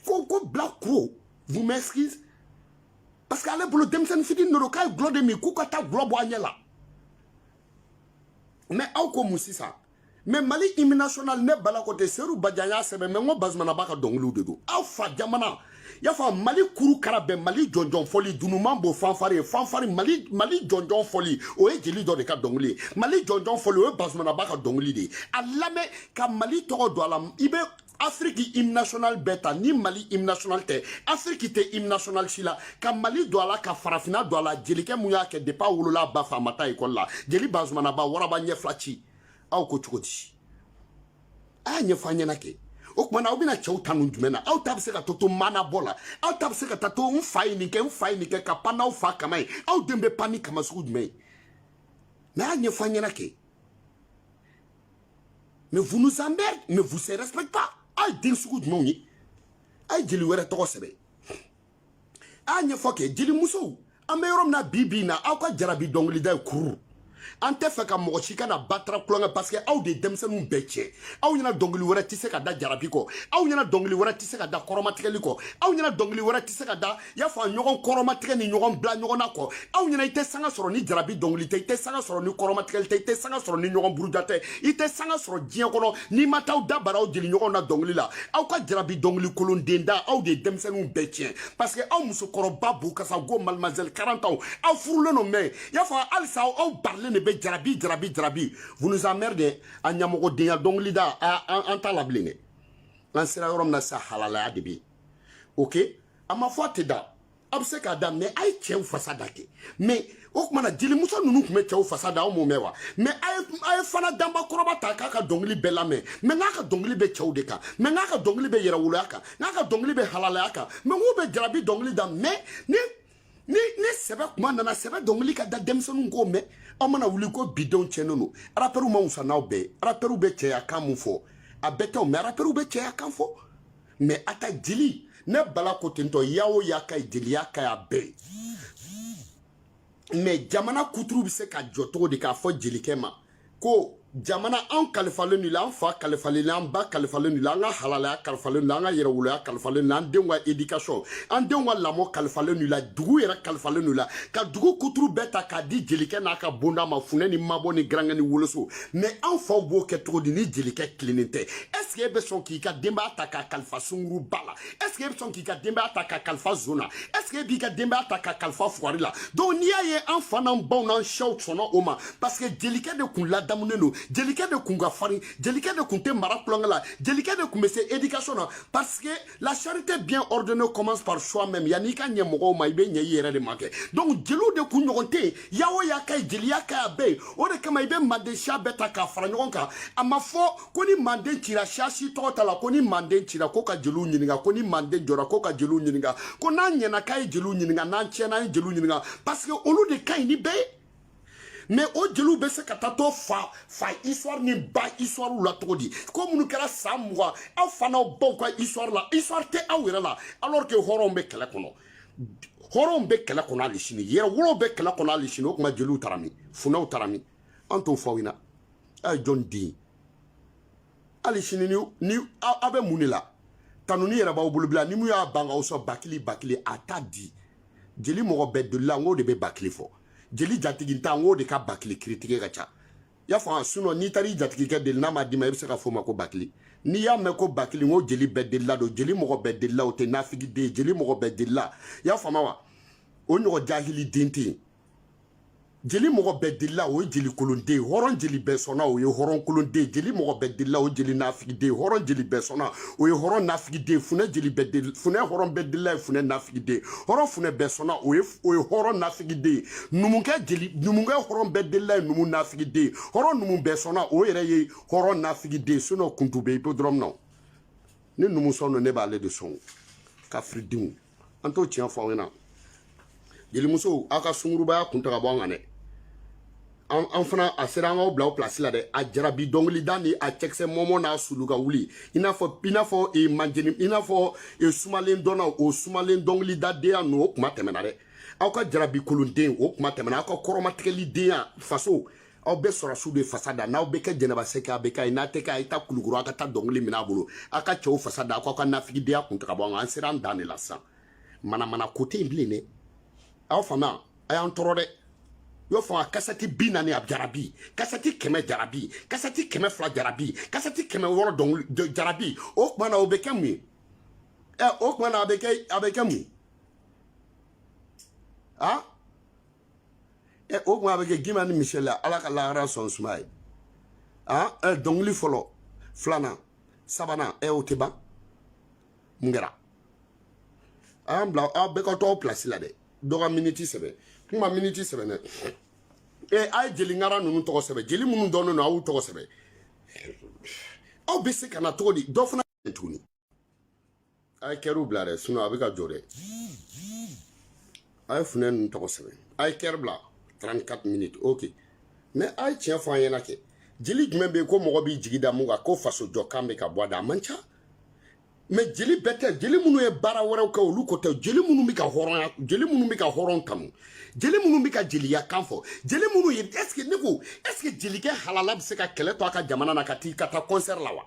ko ko bilakoro vous m'excusez parce que ale bolo denmisɛnnin fitini de don k'a ye gulɔ de min k'u ka taa gulɔ bɔ a ɲɛ la mais aw ko mun sisan mais mali hymne national ne bala ko tɛ seyidu bajan y'a sɛbɛn mais n ko bazumanaba ka dɔnkiliw de don aw fa jamana y'a fɔ mali kuru kara bɛn mali jɔnjɔn fɔli dunuman b'o fanfari ye fanfari mali jɔnjɔn fɔli o ye jeli dɔ de ka dɔnkili ye mali jɔnjɔn fɔli o ye bazumanaba ka dɔnkili de ye a lamɛn ka mali tɔgɔ don a la i bɛ afiriki hymne national bɛɛ ta ni mali hymne national tɛ afiriki tɛ hymne national si la ka mali don a la ka farafinna don a la jelikɛ mun y'a kɛ depuis a wolola a ba fɛ a ma taa ekɔli la jeli bazumanaba waraba ɲɛ fila ci aw ko cogo di a y'a ɲɛfɔ an ɲɛna kɛ o tuma na aw bɛna cɛw ta nun jumɛn na aw ta bɛ se ka to to maanabɔ la aw ta bɛ se ka taa to n fa ye nin kɛ n fa ye nin kɛ ka pan n'aw fa kaman ye aw den bɛ pan ni kaman sugu jumɛn ye mais a y'a ɲɛfɔ an ɲɛna kɛ mais vous nous emmerdez mais vous se respectez pas a ye den sugu jumɛnw ye a ye jeli wɛrɛ tɔgɔ sɛbɛn a y'a ɲɛfɔ kɛ jelimusow an bɛ yɔrɔ min na bi bi in na aw ka jarabi dɔnkilida ye kururu an tɛ fɛ ka mɔgɔ si kana batara kolonkɛ parce que aw de ye denmisɛnninw bɛɛ tiɲɛ aw ɲɛna dɔnkili wɛrɛ tɛ se ka da jarabi kɔ aw ɲɛna dɔnkili wɛrɛ tɛ se ka da kɔrɔmatigɛli kɔ aw ɲɛna dɔnkili wɛrɛ tɛ se ka da i y'a fɔ a ɲɔgɔn kɔrɔmatigɛ ni ɲɔgɔn bila ɲɔgɔn na kɔ aw ɲɛna i tɛ sanga sɔrɔ ni jarabi dɔnkili tɛ i tɛ sanga sɔrɔ ni kɔrɔmatigɛli tɛ i tɛ sanga sɔrɔ ni ɲɔgɔn buruja tɛ i tɛ sanga sɔrɔ diɲɛ kɔnɔ n'i ma taa aw da bara aw jeli ɲɔgɔn na dɔnkili la aw ka jarabi dɔnkili kolon den da aw de ye denmisɛnninw bɛɛ tiɲɛ parce que aw musokɔrɔba b'u kasa go mademoiselle quarante ans aw furulen don mais i y'a fɔ halisa aw barilen de bɛ jarabi jarabi jarabi vous nous emmerdez a ɲamɔgɔdenya dɔnkili da an t'a la bilen dɛ an sera yɔrɔ min na sa halalaya de bɛ yen ok a ma fɔ a tɛ da a bɛ se k'a da mais a ye cɛw fasa da kɛ mais o tuma na jelimuso ninnu tun bɛ cɛw fasa da aw m'o mɛn wa mais a ye fanta danba kɔrɔba ta k'a ka dɔnkili bɛɛ lamɛn mais n'a ka dɔnkili bɛ cɛw de kan mais n'a ka dɔnkili bɛ yɛrɛwoloya kan n'a ka dɔnkili bɛ halalaya kan mais k'u bɛ jarabi dɔnkili da mais ni ni ni sɛbɛ kuma nana sɛbɛ dɔnkili ka da denmisɛnninw k'o mɛn aw mana wuli ko bidenw tiɲɛnen don arapɛriw ma wusa n'aw bɛɛ ye arapɛriw bɛ cɛya kan mun fɔ a bɛɛ tɛw mais arapɛriw bɛ cɛya kan fɔ mais a ta jeli ne bala ko tentɔ ya o ya ka ye jeliya ka y'a bɛɛ ye mais jamana kuturu bɛ se ka jɔ cogo di k'a fɔ jelikɛ ma ko jamana an kalifalen i la an fa kalifalen i la an ba kalifalen i la an ka halalaya kalifalen i la an ka yɛrɛwoloya kalifalen i la an denw ka éducation an denw ka lamɔ kalifalen i la dugu yɛrɛ kalifalen i la ka dugu kuturu bɛɛ ta k'a di jelikɛ n'a ka bonda ma funɛ ni mabɔ ni garankɛ ni woloso mais an faw b'o kɛ cogo di ni jelikɛ tilennen tɛ est-ce que e bɛ sɔn k'i ka denbaya ta k'a kalifa sunguruba la est-ce que e bɛ sɔn k'i ka denbaya ta k'a kalifa zon na est-ce que e b'i ka denbaya ta k'a kalifa fugari la donc n'i y'a ye an fa n'an baw n'an sɛw sɔnna o ma parce que jelikɛ de kun ladamunen don jelikɛ de kun ka farin jelikɛ de kun tɛ mara tulonkɛ la jelikɛ de kun bɛ se éducation na parce que La charité bien ordonnée commence par soi-même. Yanni i ka ɲɛ mɔgɔw ma i bɛ ɲɛ i yɛrɛ de ma kɛ. Donc jeliw de kun ɲɔgɔn tɛ yen. Ya o ya ka ɲi jeliya ka ɲ'a bɛɛ ye. O de kama i bɛ manden siya bɛɛ ta k'a fara ɲɔgɔn kan. A ma fɔ ko ni manden cira siya si tɔgɔ t'a la ko ni manden cira ko ka jeliw ɲininka ko ni manden jɔra ko ka jeliw ɲininka ko n'an ɲɛna k'a ye jeliw ɲininka n'an tiɲɛna an ye jeliw ɲininka parce que olu de ka ɲi ni bɛɛ ye. mais o jeliw bɛ se ka taa to fa fa histoire ni ba histoire la cogo di ko minnu kɛra san mugan aw fa n'aw baw ka histoire la histoire tɛ aw yɛrɛ la alors que hɔrɔnw bɛ kɛlɛ kɔnɔ hɔrɔnw bɛ kɛlɛ kɔnɔ hali sini yɛrɛwolow bɛ kɛlɛ kɔnɔ hali sini o tuma jeliw taara min funɛw taara min an t'o fɔ aw ɲɛna a ye jɔn den hali sini ni ni aw bɛ mun de la tanuni yɛrɛ b'aw bolo bila ni min y'a ban k'aw sɔn bakili bakili a t'a di jeli mɔgɔ bɛɛ delila n k'o de bɛ bakili fɔ jeli jatigintan n k'o de ka bakili kiritigɛ ka ca y'a faamu sinon n'i taara i jatigikɛ deli n'a m'a d'i ma i bɛ se k'a f'o ma ko bakili n'i y'a mɛn ko bakili n ko jeli bɛɛ delila don jeli mɔgɔ bɛɛ delila o tɛ nafigiden jeli mɔgɔ bɛɛ delila y'a faamu wa o ɲɔgɔn jahiliden tɛ yen jeli mɔgɔ bɛɛ delila o ye jeli kolonden hɔrɔn jeli bɛɛ sɔnna o ye hɔrɔn kolonden jeli mɔgɔ bɛɛ delila o jeli nafigiden hɔrɔn jeli bɛɛ sɔnna o ye hɔrɔn nafigiden funɛ jeli bɛɛ del funɛ hɔrɔn bɛɛ delila ye funɛ nafigiden hɔrɔn funɛ bɛɛ sɔnna o ye o ye hɔrɔn nafigiden numukɛ jeli numukɛ hɔrɔn bɛɛ delila ye numu nafigiden hɔrɔn numu bɛɛ sɔnna o yɛrɛ ye hɔrɔn nafigiden sinon kuntu bɛ hippodrome na ni numu sɔn don ne b'ale de sɔn kafiridenw an t'o tiɲɛ fɔ aw ɲɛna jelimusow aw ka sungurubaya kun ta ka bɔ an kan dɛ an fana a sera an k'aw bila aw pilasi la dɛ a jarabi dɔnkilida ni a cɛkisɛ mɔmɔ n'a sulu ka wuli i n'a fɔ i n'a fɔ e manjeni i n'a fɔ e sumalen dɔnna o sumalen dɔnkilida denya ninnu o kuma tɛmɛna dɛ aw ka jarabi kolonden o kuma tɛmɛna aw ka kɔrɔmatigɛli denya faso aw bɛ sɔrɔdasiw de fasa da n'aw bɛ kɛ jɛnɛba sɛki a bɛ kɛ ye n'a tɛ kɛ a ye taa kulukoro aw ka taa dɔnkili minɛ a bolo aw ka cɛw fasa da aw k'aw ka nafigidenya kun ta ka bɔ an kan an sera an dan de la sisan manamana ko tɛ yen bilen dɛ aw fama a y'an tɔɔrɔ dɛ y'o fanga kasɛti bi naani a jarabi kasɛti kɛmɛ jarabi kasɛti kɛmɛ fila jarabi kasɛti kɛmɛ wɔɔrɔ dɔnkili jarabi o tuma na o bɛ kɛ mun ye ɛ o tuma na a bɛ kɛ a bɛ kɛ mun ye aa. ɛ o tuma a bɛ kɛ gima ni misɛli la ala ka lahara sɔn suma ye an ɛ dɔnkili fɔlɔ filanan sabanan ɛ o tɛ ban mun kɛra a y'an bila aw bɛɛ ka to aw pilasi la dɛ dɔ ka miniti sɛbɛn kuma miniti sɛbɛn dɛ ɛ a ye jeli ŋara ninnu tɔgɔ sɛbɛn jeli minnu dɔnnen don a y'u tɔgɔ sɛbɛn aw bɛ se ka na cogo di dɔ fana tuguni a ye kɛriw bila dɛ a bɛ ka jɔ dɛ a ye funɛ ninnu tɔgɔ sɛbɛn a ye kɛri bila 34 minutes ok mɛ a ye tiɲɛ fɔ an ɲɛna kɛ jeli jumɛn bɛ yen ko mɔgɔ b'i jigi da mun kan ko faso jɔ kan bɛ ka bɔ a da a man ca mɛ jeli bɛɛ tɛ jeli minnu ye baara wɛrɛw kɛ olu ko tɛ jeli minnu bɛ ka hɔrɔnya jeli minnu bɛ ka hɔrɔn tanu jeli minnu bɛ ka jeliya kan fɔ jeli minnu ye ɛseke ne ko ɛseke jelikɛ halala bɛ se ka kɛlɛ to a ka jamana na ka tila ka taa kɔnsɛri la wa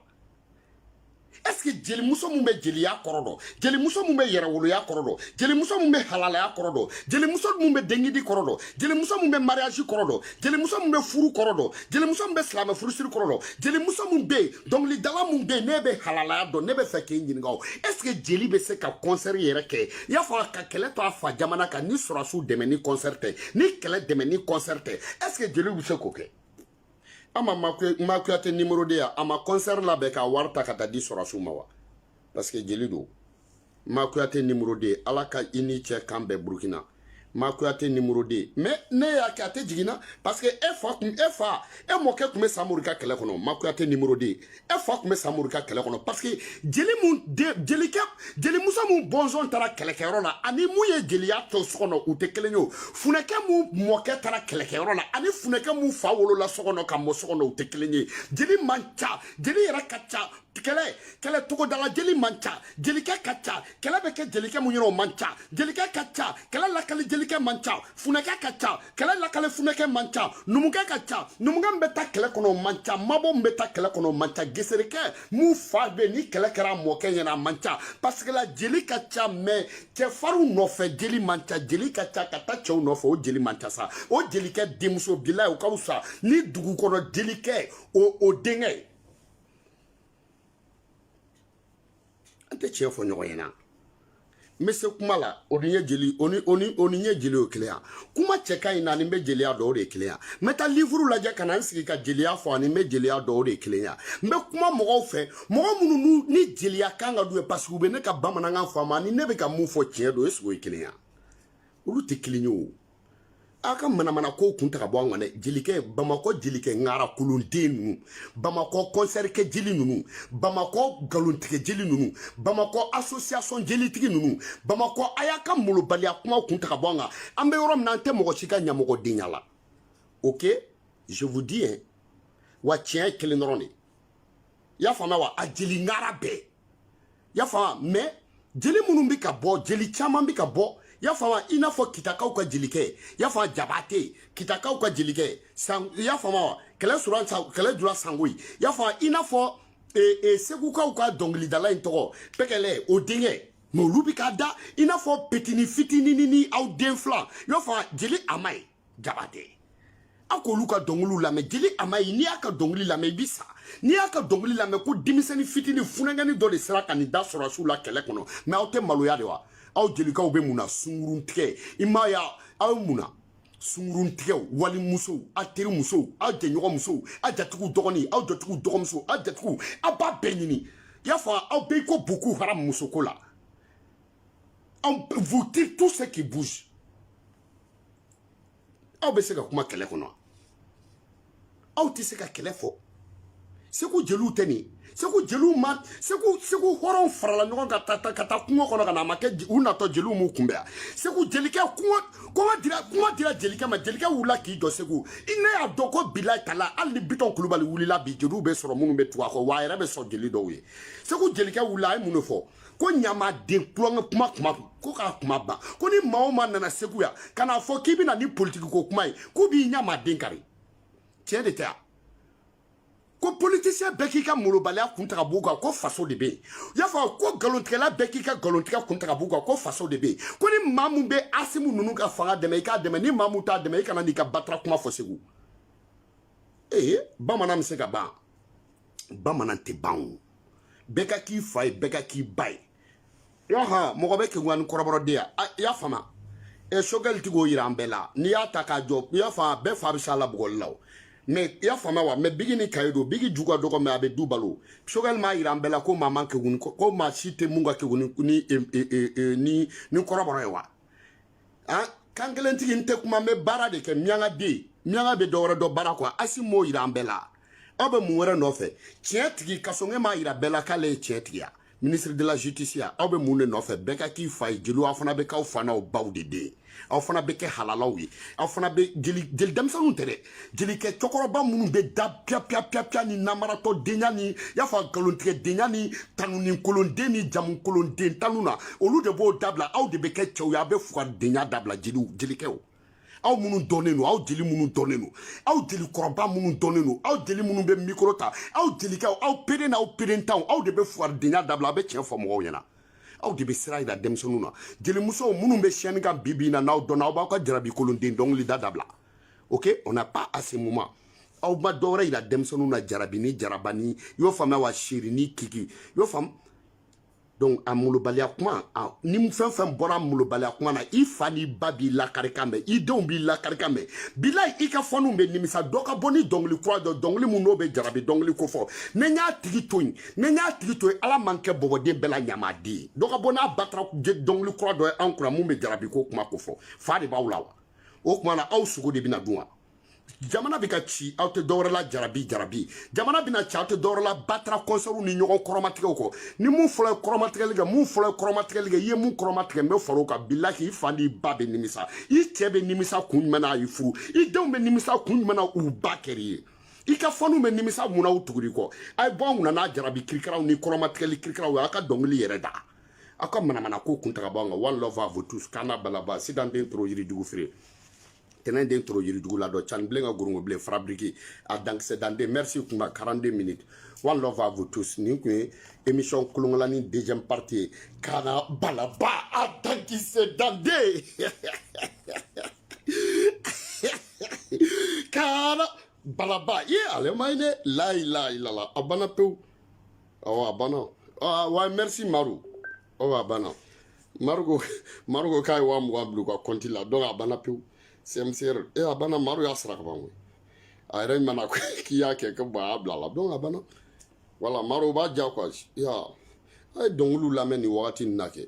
ɛseke jelimuso min bɛ jeliya kɔrɔ dɔn jelimuso min bɛ yɛrɛwoloya kɔrɔ dɔn jelimuso min bɛ halalaya kɔrɔ dɔn jelimuso min bɛ dengidi kɔrɔ dɔn jelimuso min bɛ mariyazi kɔrɔ dɔn jelimuso min bɛ furu kɔrɔ dɔn jelimuso min bɛ silamɛ furusiri kɔrɔ dɔn jelimuso min bɛ yen dɔnkilidala min bɛ yen n'e bɛ halalaya dɔn ne bɛ fɛ k'e ɲininka o ɛseke jeli bɛ se ka kɔnsɛri yɛrɛ kɛ i y'a fɔ ka kɛlɛ to a fa jamana kan ni sɔrɔsiw dɛmɛni kɔnsɛri tɛ ni kɛlɛ dɛmɛni kɔnsɛri tɛ ɛseke jeliw bɛ se k'o kɛ ama ma kuyate nimoro de ya a ma concert labɛn k'a wari ta ka taa di sɔrɔsiw ma wa parce que jeli don ma kuyate nimoro de ala ka i ni cɛ kan bɛn burukina ma kuyate nimoro de mais ne y'a kɛ a tɛ jiginna parce que e fa kun e fa e mɔkɛ kun bɛ samori ka kɛlɛ kɔnɔ ma kuyate nimoro de e fa kun bɛ samori ka kɛlɛ kɔnɔ parce que jeli mun jelikɛ jelimuso mun bɔnsɔn taara kɛlɛkɛyɔrɔ la ani mun ye jeliya tɔ so kɔnɔ u tɛ kelen ye o funɛkɛ mun mɔkɛ taara kɛlɛkɛyɔrɔ la ani funɛkɛ mun fa wolola so kɔnɔ ka mɔ so kɔnɔ u tɛ kelen ye jeli man ca jeli yɛrɛ ka ca kɛlɛ kɛlɛ tɔgɔdala jeli man ca jelikɛ ka ca kɛlɛ bɛ kɛ jelikɛ mun yɔrɔ o man ca jelikɛ ka ca kɛlɛ lakali jelikɛ man ca funɛkɛ ka ca kɛlɛ lakali funɛkɛ man ca numukɛ ka ca numukɛ min bɛ taa kɛlɛ kɔnɔ o man ca mabɔ min bɛ taa kɛlɛ kɔnɔ o man ca geserekɛ mun fa bɛ ni kɛlɛ kɛra a mɔkɛ ɲɛna a man ca parce que la jeli ka ca mɛ cɛfarinw nɔfɛ jeli man ca jeli ka ca ka taa cɛw nɔfɛ o jeli man ca sa o jelikɛ denmuso bila o ka fisa ni dugu kɔnɔ jelikɛ o o denkɛ ye an tɛ tiɲɛ fɔ ɲɔgɔn ɲɛna n bɛ se kuma la o ni ye jeli o ni o ni o ni n ye jeli o kelen ya kuma cɛ ka ɲi n na ani n bɛ jeliya dɔn o de kelen ya n bɛ taa livuru lajɛ ka na n sigi ka jeliya fɔ ani n bɛ jeliya dɔn o de kelen ya n bɛ kuma mɔgɔw fɛ mɔgɔ minnu ne jeliya kan ka d'u ye parce que u bɛ ne ka bamanankan faamu ani ne bɛ ka mun fɔ tiɲɛ don est ce que o ye kelen ye olu tɛ kelen ye o aw ka manamana ko kun ta ka bɔ an kan dɛ jelikɛ bamakɔ jelikɛ ŋara kolonden ninnu bamakɔ kɔnsɛri kɛ jeli ninnu bamakɔ nkalontigɛ jeli ninnu bamakɔ asosiyasɔn jelitigi ninnu bamakɔ a y'a ka molobaliya kuma kun ta ka bɔ an kan an bɛ yɔrɔ min na an tɛ mɔgɔ si ka ɲamɔgɔdenya la ok je vous dis hein wa tiɲɛ ye kelen dɔrɔn de y'a faamuya wa a jeli ŋara bɛɛ y'a faamuya mais jeli minnu bɛ ka bɔ jeli caman bɛ ka bɔ y'a faamuya i n'a fɔ kitakaw ka jelikɛ y'a faamuya jabate kitakaw ka jelikɛ san y'a faamuya wa kɛlɛ sura kɛlɛ jura sangoyi y'a faamuya i n'a fɔ ee ee segukaw ka dɔnkilidala in tɔgɔ pɛkɛlɛ o denkɛ mɛ olu bɛ ka da i n'a fɔ petini fitinin ni aw den fila y'a faamuya jeli amayi jabate aw k'olu ka dɔnkiliw lamɛn jeli amayi n'i y'a ka dɔnkili lamɛn i bi sa n'i y'a ka dɔnkili lamɛn ko denmisɛnnin fitinin funankɛnin dɔ de sera ka nin da sɔrɔdasiw la kɛlɛ kɔnɔ mɛ aw tɛ maloya de wa aw jelikɛw bɛ mun na sungurun tigɛ i m'a ye aw ye mun na sungurun tigɛ walimusow aw teri musow aw jɛɲɔgɔn musow aw jatigiw dɔgɔnin aw jatigiw dɔgɔmuso aw jatigiw aw b'a bɛɛ ɲini i y'a fɔ aw bɛ i ko buku haramu musoko la vous tirez tout ce qui bouge aw bɛ se ka kuma kɛlɛ kɔnɔ aw tɛ se ka kɛlɛ fɔ segu jeliw tɛ nin segu jeliw ma segu segu hɔrɔnw farala ɲɔgɔn kan ka taa kungo kɔnɔ ka na a ma kɛ u natɔ jeliw m'u kunbɛn yan segu jelikɛ kuma kuma dira kuma dira jelikɛ ma jelikɛ wulila k'i jɔ segu i ne y'a dɔn ko bilahi talahi hali ni bitɔn kulubali wulila bi jeliw bɛ sɔrɔ minnu bɛ tugu a kɔ wa a yɛrɛ bɛ sɔn jeli dɔw ye segu jelikɛ wulila a ye mun de fɔ ko ɲamaden tulonkɛ kuma kuma ko k'a kuma ban ko ni maa o maa nana segu yan ka n'a fɔ k'i bɛna ni politiki ko kuma ye k'u b'i ɲamaden kari tiɲɛ de tɛ yan ko politisiyɛn bɛɛ k'i ka molobaliya kun ta ka b'u kan ko faso de bɛ yen y'a fɔ ko nkalontigɛla bɛɛ k'i ka nkalontigɛ kun ta ka b'u kan ko faso de bɛ yen ko ni maa min bɛ asimi ninnu ka fanga dɛmɛ i k'a dɛmɛ ni maa min t'a dɛmɛ i kana n'i ka batara kuma fɔ segu ee bamanan bɛ se ka ban bamanan tɛ ban o bɛɛ ka k'i fa ye bɛɛ ka k'i ba ye yaha mɔgɔ bɛ kegunya ni kɔrɔbɔrɔ den ye i ah, y'a faamu ɛ eh, sogɛli ti k'o yira an bɛɛ la n'i y'a ta k'a jɔ i y'a faamu bɛɛ fa bɛ s'a la bugɔli la o mɛ i y'a faamu wa mɛ biki ni kaye don biki ju ka dɔgɔ mɛ a bɛ du balo sogɛli m'a yira an bɛɛ la ko maa man kegun ko maa si tɛ mun ka kegun ni ni ni kɔrɔbɔrɔ ye wa an kankelentigi n tɛ kuma n bɛ baara de kɛ minyanka den minyanka bɛ dɔwɛrɛ dɔn baara kɔ wa asimi m'o yira an bɛɛ la aw bɛ mun wɛrɛ nɔfɛ tiɲɛ tigi kasɔge m'a yira bɛɛ la k'ale ye tiɲɛ tigi ye ministre de la justice ya aw bɛ mun de nɔfɛ bɛɛ ka k'i fa ye jeliw aw fana bɛ k'aw fa n'aw baw de den aw fana bɛ kɛ halalaw ye aw fana bɛ jeli jeli denmisɛnninw tɛ dɛ jelikɛ cɛkɔrɔba minnu bɛ da piyapiyapiyapya ni namaratɔ denya ni y'a fɔ a nkalontigɛ denya ni tanuninkolonden ni jamukolonden tanu na olu de b'o dabila aw de bɛ kɛ cɛw ye a bɛ fugaridenya dabila jeliw jelikɛw aw minnu dɔnnen don aw jeli minnu dɔnnen don aw jelikɔrɔba minnu dɔnnen don aw jeli minnu bɛ mikoro ta aw jelikɛw aw pere n'aw perentanw aw de bɛ fugaridenya dabila a bɛ tiɲɛ fɔ mɔgɔw ɲɛna aw de bɛ sira yira denmisɛnninw na jelimusow minnu bɛ scène kan bi bi in na n'aw dɔnna aw b'aw ka jarabikolonden dɔnkilida dabila ok on n'a pas à ce moment aw ma dɔwɛrɛ yira denmisɛnninw na jarabi ni jaraba ni y'o faamuya wa chéri ni kiki y'o faamu donc a molobaliya kuma ni fɛn fɛn bɔra molobaliya kuma na i fa n'i ba b'i lakari kan mɛn i denw b'i lakari kan mɛn bilayi i ka fanw bɛ nimisa dɔ ka bɔ ni dɔnkili kura dɔ dɔnkili min n'o bɛ jarabi dɔnkili ko fɔ ne y'a tigi to yen ne y'a tigi to yen ala ma n kɛ bɔbɔden bɛɛ la ɲamaden ye dɔ ka bɔ n'a batara dɔnkili kura dɔ ye an kunna min bɛ jarabi ko kuma ko fɔ fa de b'aw la wa o tuma na aw sogo de bɛna dun wa jamana bɛ ka ci aw tɛ dɔwɛrɛ la jarabi jarabi jamana bɛna ci aw tɛ dɔwɛrɛ la batara kɔnsɛriw ni ɲɔgɔn kɔrɔmatigɛw kɔ ni min fɔlɔ ye kɔrɔmatigɛli kɛ min fɔlɔ ye kɔrɔmatigɛli kɛ i ye min kɔrɔmatigɛ n bɛ far'o kan bilayi i fa n'i ba bɛ nimisa i cɛ bɛ nimisa kun jumɛn na a y'i furu i denw bɛ nimisa kun jumɛn na u ba kɛr'i ye i ka fanw bɛ nimisa mun na u tugur'i kɔ a ye bɔ an kunna n'a jarabi kirikaraw ni kɔrɔmatigɛli kirikaraw ye aw ka dɔnkili yɛrɛ da aw ka manamana ko kun ta ka b'anw kan one love à vous tous kana balaba sidan den toro yirijugu feere tɛnɛn den toro yirijugu la dɔ cani bilen ka gorongo bilen fabriqué a dankisɛ danden merci kunba 42 minutes one love à vous tous nin kun ye émission kolonkolani deuxième partie ye kana balaba a dankisɛ danden kana balaba ye ale ma ye dɛ layi layi lala a banna pewu awa a banna ah, wa merci maru awa a banna maru ko maru ko k'a ye wa mugan bila u ka kɔnti la donc a banna pewu cmcr e a banna maru y'a sara ka ban koyi a yɛrɛ mana k'i y'a kɛ ko bɔn a y'a bila a la donc a banna voilà maru b'a diya quoi ya a ye dɔnkiliw lamɛn nin wagati nin na kɛ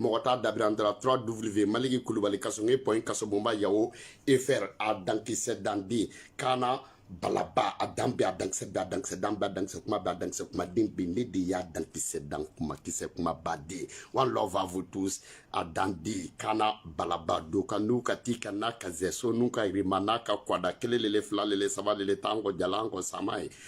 mɔgɔ t'a dabiri an dara trois w maliki kulubali kasonge point kasobonba yahoo fr a dankisɛ danden kana balaba a dan bɛɛ a dankisɛ bɛɛ a dankisɛ dan bɛɛ a dankisɛ kuma bɛɛ a dankisɛ kuma den bɛɛ ne de y'a dankisɛ dan kuma kisɛ kuma ba den one love à vous tous a danden kana balaba do ka n'u ka ti ka n'a ka zɛso n'u ka rima n'a ka kwada kelen lele fila lele saba lele tan kɔ jalan kɔ sama ye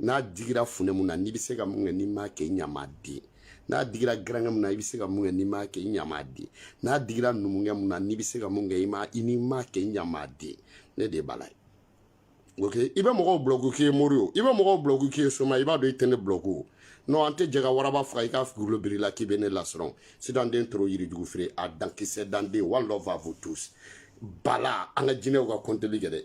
n'a digira funɛ min na n'i bɛ se ka min kɛ n'i m'a kɛ i ɲamaden n'a digira garankɛ min na i bɛ se ka min kɛ n'i m'a kɛ i ɲamaden n'a digira numukɛ min na n'i bɛ se ka min kɛ i ma i n'i m'a kɛ i ɲamaden ne de b'a la ye ok i bɛ mɔgɔw bulɔfu k'i ye mori o i bɛ mɔgɔw bulɔfu k'i ye soma i b'a dɔn i tɛ ne bulɔfu o non an tɛ jɛ ka waraba faga i k'a fugolo bir'i la k'i bɛ ne lasiran sidanden toro yirijugu feere a dankisɛ danden one love à vous tous bala an ka jinɛw ka kɔnteli kɛ dɛ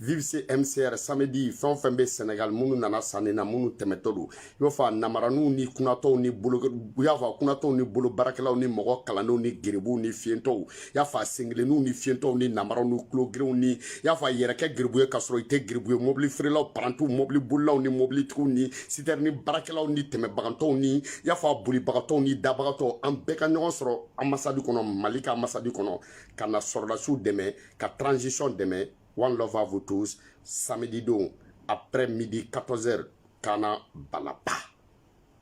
vive mcr samedi fɛn o fɛn bɛ senegal minnu nana sanni na minnu tɛmɛtɔ don i b'a fɔ a namaraniw ni kunatɔw ni bolo i y'a fɔ a kunatɔw ni bolo baarakɛlaw ni mɔgɔ kalandenw ni geribuw ni fiyentɔw i y'a fɔ a senkelenninw ni fiyentɔw ni namaraw ni kulogerenw ni i y'a fɔ a yɛrɛ kɛ geribu ye k'a sɔrɔ i tɛ geribu ye mobili feerelaw parantiw mobili bolilaw ni mobilitigiw ni sitɛri ni baarakɛlaw ni tɛmɛbagatɔw ni i y'a fɔ a bolibagatɔw ni dabagatɔw an bɛɛ ka ɲɔgɔn sɔrɔ anbasadi kɔnɔ mali ka anbasadi kɔnɔ ka na sɔrɔdasiw dɛmɛ ka transition dɛmɛ one love à vous tous samedi don après midi 14 heures kana balaba